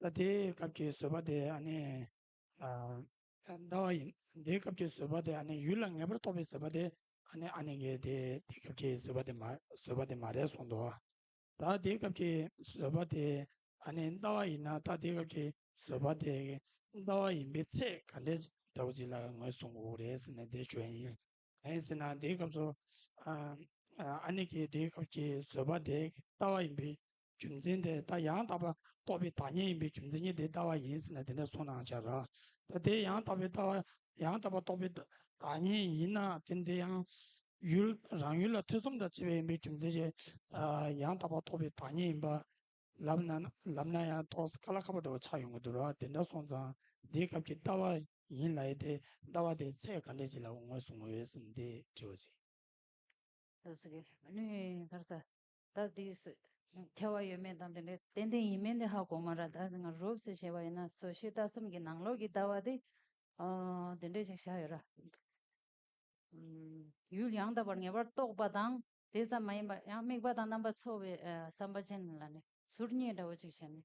G: ཟླ་དེའི་སྐབས་ཀྱི་བཟོད་པ་དེ་ཨ་ནི། ཟླ་བ་ཡིན། དེའི་སྐབས་ཀྱི་བཟོད་པ་དེ་ཨ་ནི་ཡུལ་ལ་ངེས་པར་རྟོགས་པའི་བཟོད་པ་དེ་ཨ་ནི་ཨ་ནི་གེ་དེ་དེའི་སྐབས་ཀྱི་བཟོད་པ་དེ་མ་བཟོད་པ་དེ་མ་རེད་གསུངས་འདུག་ད་དེའི་སྐབས་ཀྱི་བཟོད་པ་དེ་ཨ་ནི་ཟླ་བ་ཡིན་ན་ད་དེའི་སྐབས་ཀྱི་བཟོད་པ་དེ་ཟླ་བ་ཡིན་པའི་ཚད་ག་འདྲའི་འདྲ་བོ་ཅིག་ལ་ངོས་བཟུང་དགོས་རེད་ཟེར་ན་དེ་ཆོས་ཡིན། གང་ཡིན་ཟེར་ན་དེའི་སྐབས་སུ་ཨ་ནི་གེ་དེའི་སྐབས་ཀྱི་བཟོད་པ་དེ་ཟླ་བ་ཡིན་པའི་རྒྱུ་མཚན་དེ་ལྟ་ཡང་དག་པར་རྟོགས་པའི་བདག་ཉིད་ཡིན་པས་རྒྱུ་མཚན་ཉིད་དེ་ལྟ་བ་ཡིན་ཟེར་ན་དེ་འདྲ་སོང་ནའང་བྱ། ད་དེ་ཡང་དག་པའི་ལྟ་བ་ཡང་དག་པར་རྟོགས་པའི་བདག་ཉིད་ཡིན་ན་དེ་འདི་ཡང་ཡུལ་རང་ཡུལ་ལ་ཐེ་ཚོམ་དང་བཅས་པ་ཡིན་པས་རྒྱུ་མཚན་ཅན་ཡང་དག་པར་རྟོགས་པའི་བདག་ཉིད་ཡིན་པར་ལབ་ན་ལབ་ན་ཡང་ཐོགས་ཀ་ལ་ཁ་བ་འདྲ་བ་ཆགས་ཡོང་གི་འདུག་ར་དེ་འདྲ་སོང་ཙང་འདིའི་སྐབས་ཀྱི་ལྟ་བ་ཡིན་ལ་ཡི་དེ་ལྟ་བ་དེའི་ཚད་ག་འདྲས་ཅི་ལ་འོང་བའི་གཟུང་བའི་སེམས་དེ་དྲི་བ་ཅི།
A: ལྷ་སྐུ་གཉིས་ཀ་ཡིན་ན། ད་དུས་སུ་ཁྱད་བར་ཡོད་མེད་དང་དེ་འདྲའི་ཏན་ཏན་ཡིན་མིན་དེ་ཧ་གོ་མ་ར་ད་ང་རུབ་སུ་བྱས་པ་ཡིན་ན་སོ་ཤི་རྟ་གསུམ་གྱི་ནང་ལོགས་ཀྱི་ལྟ་བ་དེ་དེ་འདྲས་ཞིག་བཞག་ཡོད་ར། ཡུལ་ཡང་དག་པར་ངེས་པར་རྟོགས་པ་དང་དེ་ཙམ་མ་ཡིན་པ་ཡང་དམིགས་པ་དང་རྣམ་པ་འཚོ་བའི་བསམ་པ་ཅན་ལ་ནི་ཟུར་གཉིས་འདྲ་བོ་ཅིག་བྱས་ནས་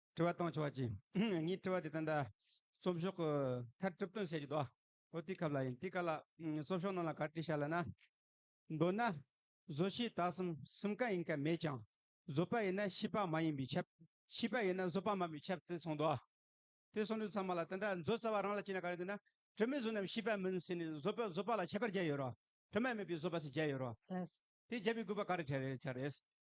B: དྲི་བ་གཏང་ཆོག་བ་
F: ཅི། ངའི་དྲི་བ་དེ་ད་ལྟ་སོབ་ཤོག་གི་མཐར་གྲུབ་བཏོན་བྱས་ཀྱི་འདུག་ཨོ་དེ་ཁབ་ལ་ཡིན་དེ་ག་ལ། སོབ་ཤོག་ནང་ལ་ག་རེ་བྲིས་བྱ་ལ་ན། མདོར་ན། བཟོ་ཤེས་དག་གསུམ་གསུམ་ག་ཡིན་ག་མེད་ཀྱང། བཟོ་པ་ཡིན་ན་ཤེས་པ་མ་ཡིན་པའི་ཁྱབ། ཤེས་པ་ཡིན་ན་བཟོ་པ་མིན་པའི་ཁྱབ་དེ་གསུངས་འདུག། དེ་གསུངས་དུས་ཚང་མ་ལ་དེ་འདྲ་མཛོད་རྩ་བ་རང་ལ་བྱས་ན་ག་རེ་འདོད་ན། དྲི་མེད་བཟོ་རྣམས་ཤེས་པ་མིན་ཟེར་ནས་བཟོ་པས་བཟོ་པ་ལ་ཁྱད་པར་བརྒྱབ་ཡོད་རོགས། དྲི་མ་མེད་པའི་བཟོ་པ་ཟེར་བརྒྱབ་ཡོད་རོགས། དེ་བརྒྱབ་པའི་དགོས་པ་ག་རེ་བྱ་རེད།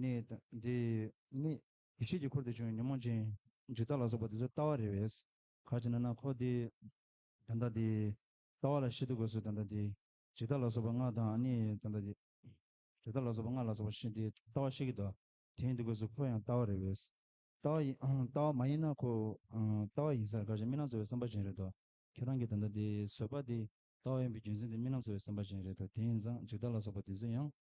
H: ནི་དང། འདི་ནི། ཡེ་ཤེས་ཀྱི་འཁོར་དེ་བྱུང་བའི་ཉོན་མོངས་ཅན། ཇི་ལྟ་ལ་སོགས་པ་དེ་ཚོའི་ལྟ་བ་རེ་བས། ག་ཅི་ན་ན་འཁོར་འདི། དང་ལྟ་འདི། ལྟ་བ་ལ་ཤི་དུ་དགོས་སོ་དང་ལྟ་འདི། ཇི་ལྟ་ལ་སོགས་པ་སྔགས་དང་ནི་དང་ལྟ་འདི། ཇི་ལྟ་ལ་སོགས་པ་སྔགས་ལ་སོགས་པ་ཤི་འདི་ལྟ་བ་ཤི་གི་དོ། དེ་ཡིན་
I: དུ་དགོས་སོ་འཁོར་ཡང་ལྟ་བ་རེ་བས། ལྟ་བ་ཡིན། ལྟ་བ་མ་ཡིན་ན་འཁོར། ལྟ་བ་ཡིན་སར་ག་ཅི་རྨི་ལམ་གསོ་བའི་བསམ་པ་ཅན་རེད་དོ། ཁྱེད་རང་གིས་དང་ལྟ་འདི་བཟོད་པ་འདི། ལྟ་བ་ཡིན་པའི་རྒྱུ་མཚན་དེ་རྨི་ལམ་གསོ་བའི་བསམ་པ་ཅན་རེད་དོ་དེ་ཡིན་ཙང་ཇི་ལྟ་ལ་སོགས་པ་དེ་ཚོ་ཡང།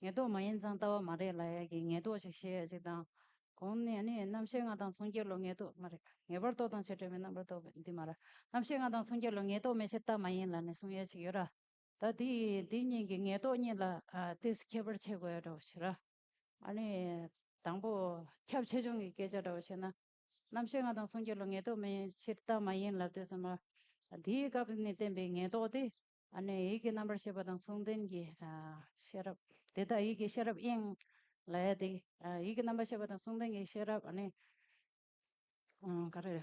A: ངེས་རྟོག་མ་ཡིན་ཙང་ལྟ་བ་མ་རེད་ལ་ཡ་གི་ངེས་རྟོག་ཅིག་བཤད་ཡ་ཅིག་དང། གོང་ནས་ནི་རྣམ་ཤེས་ལྔ་དང་མཚུངས་སྐྱེ་ལོ་ངེས་རྟོག་མ་རེད། ངེས་པར་རྟོག་དང་བྱེད་བྲལ་མེད་རྣམ་པར་རྟོག་པའི་འདི་མ་རེད། རྣམ་ཤེས་ལྔ་དང་མཚུངས་སྐྱེ་ལོ་ངེས་རྟོག་མེད་ཕྱིར་ལྟ་མ་ཡིན་ལ་ནི་གསུང་ཡ་ཅིག་ཡོད་ར། ད་དེ་འདི་གཉིས་ཀྱི་ངེས་རྟོག་གཉིས་ལ་དེས་ཁྱད་པར་ཕྱེད་དགོས་ཡ་འདྲ་བ་ཞིག་ར། ཨ་ནི། དང་པོ། ཁྱབ་ཆེ་ཆུང་གི་སྐད་ཆ་འདྲ་བ་བཤད་ན། རྣམ་ཤེས་ལྔ་དང་མཚུངས་སྐྱེ་ལོ་ངེས་རྟོག་མེད་ཕྱིར་ལྟ་མ་ཡིན་ལ་ལྟོས་ས་མ། དེའི་སྐབས་ནས་བསྟན་པའི་ངེས་རྟོག་དེ། ཨ་ནི་ཡིད་ཀྱི་རྣམ་པར་ཤེས་པ་དང་མཚུངས་ལྡན་གྱི་ཤེས་རབ། དེ་དག་ཡིད་ཀྱི་ཤེས་རབ་དབྱིངས་ལ་ཡལ་ཏེ། ཡིད་ཀྱི་རྣམ་པར་ཤེས་པ་དང་མཚུངས་ལྡན་གྱི་ཤེས་རབ་ཨ་ནི། ག་རེ།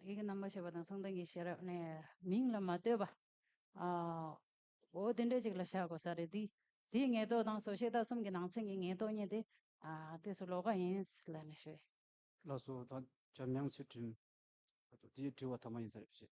A: ཡིད་ཀྱི་རྣམ་པར་ཤེས་པ་དང་མཚུངས་ལྡན་གྱི་ཤེས་རབ་ཨ་ནི། མིང་ལ་མ་ལྟོས་པ། འོ་དེ་འདྲའི་ཅིག་ལ་བཞག་དགོས་ས་རེད། དེའི་ངེས་རྟོག་དང་སོ་ཤེས་དག་གསུམ་གྱི་ནང་ཚན་གྱི་ངེས་རྟོག་གཉིས་ཏེ། དེ་སུ་ལོག་ག་ཡིན་ལ་ནི་ཞུས། ལ་སོ་དང་
B: བྱམས་དབྱངས་ཚུལ་ཁྲིམས། དེའི་དྲི་བ་ཐ་མ་ཡིན་ས་རེད་བཤད།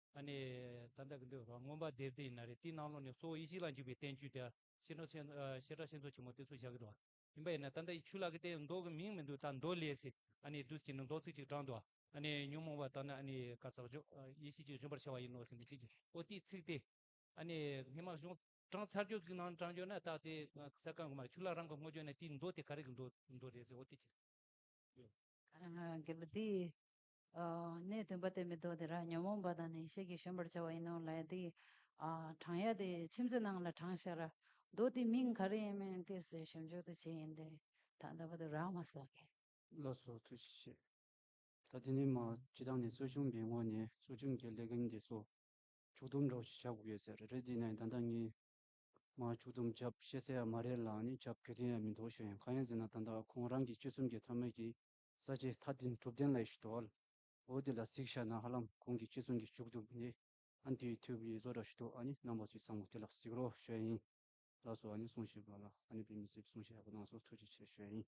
J: ཨ་ནི། ད་ལྟ་གི་འདོད་པ་མངོན་པར་འདིར་དེ་ན་རེ་དེའི་སྣང་ལོག་ནས་གཙོ་བོ་ཡེ་ཤེས་ལ་འཇུག་པའི་བསྟན་བཅོས་དེ། ཤེས་རབ་ཆེན་མཚོ་ཆེན་མོ་དེ་ཚོ་བཞག་གི་འདུག་བ། ཡིན་པ་ཡིན་ན་ད་ལྟ་ཡི་ཆུ་ལག་གི་སྟེང་མདོག་གི་མིང་མི་འདུག་ད་མདོ་ལས་སི་ཨ་ནི་བདུད་ཀྱི་ནི་མདོ་ཚིག་ཅིག་དྲངས་འདུག་བ། ཨ་ནི་ཉོན་མོངས་པ་ལྟར་ན་ཨ་ནི་ག་ཙག་ཅོག་ཡེ་ཤེས་ཀྱིས་བཞོན་པར་བྱ་བ་ཡིན་ནོ་ཟེར་ནས་དེ་པོ་དེའི་ཚིག་སྟེ། ཨ་ནི་སྔས་མ་གཞུང་དྲངས་ཚར་གྱུར་གྱི་ནང་དྲངས་གྱུར་ན་ད་དེ་ས་སྐམ་གི་མ་ཆུ་ལག་རང་གི་སྔོ་གྱུར་ན་དེའི་མདོ་དེ་ག་རེ་གི་མདོ་རེད་ཟེར་བ་དེ་ཅི། དགེ་བ་
A: དེའི་གནས་བདུན་པ་སྟེ་མི་ལྡོག་དེ་རང་ཉོན་མོངས་པ་དང་ནི་ཤེས་ཀྱིས་གཞོམ་པར་བྱ་བ་ཡིན་ནོ། ལ་ཡ་དེ། གྲང་ཡ་དེ་ཕྱིན་ཅི་ནང་ལ་གྲང་ཤར། རྡོ་དེའི་མིང་ག་རེ་ཡིན་མིན་དེ་སོའི་ཞབས་འཇུག་ཏུ་བྱེད་ཡིན་ཏེ། ད་ལྟ་བ་དུ་ར་མ་ས་ཀའི། ལ་སོགས་ཐུགས་
B: རྗེ་ཆེ། ད་དེ་ནས་མ་ཇི་ལྟར་ནས་གཙོ་ཆུང་པའི་ངོས་ནས་གཙོ་ཆུང་གི་ལས་འགན་དེ་ཚོ། ཕྱུགས་དུམ་སྒྲོག་བྱེད་ཆགས་ཡོད་ཟེར་རེད་དེ་ནས་ད་ལྟ་ངས། མ་ཕྱུགས་དུམ་བྱབ་ཤེས་ས་ཡ་མ་རེད་ལ་ནི་བྱབ་གི་རིན་ཡ་མི་འདུག་ཞེས་ཡང་ཁ་ཡང་ཟེར་ན་ད་ལྟ་ཁོང་རང་གི་སྤྱི་གསུམ་གྱི་ཐ་མལ་གྱི་ས་བཅད་མཐའ་བདུན་གྲུབ་བསྟན་ལ་ཡེ་ཤུ་དོ། འོ་དེ་ལ་གཟིགས་བྱ་ན་ཧ་ལམ་གོང་གི་ཁྱེད་གསུང་གི་བཅུག་འདུག་ནི། ཨན་དེའི་མཐུས་བུ་ཡེ་བཟོ་ར་ཤི་དོ་ཨ་ནི་རྣམ་པ་ཚོས་ཚང་མ་དེ་ལ་གཟིགས་རོགས་ཞུ་ཡ་ཡིན། ལགས་སོ་ཨ་ནི་གསུང་བྱས་པ་ལ་ཨ་ནི་བོད་མི་ཚོས་གསུང་བྱས་ཡག་པོ་གནང་སོ་ཐུགས་རྗེ་ཆེ་ཞུ་ཡ་ཡིན།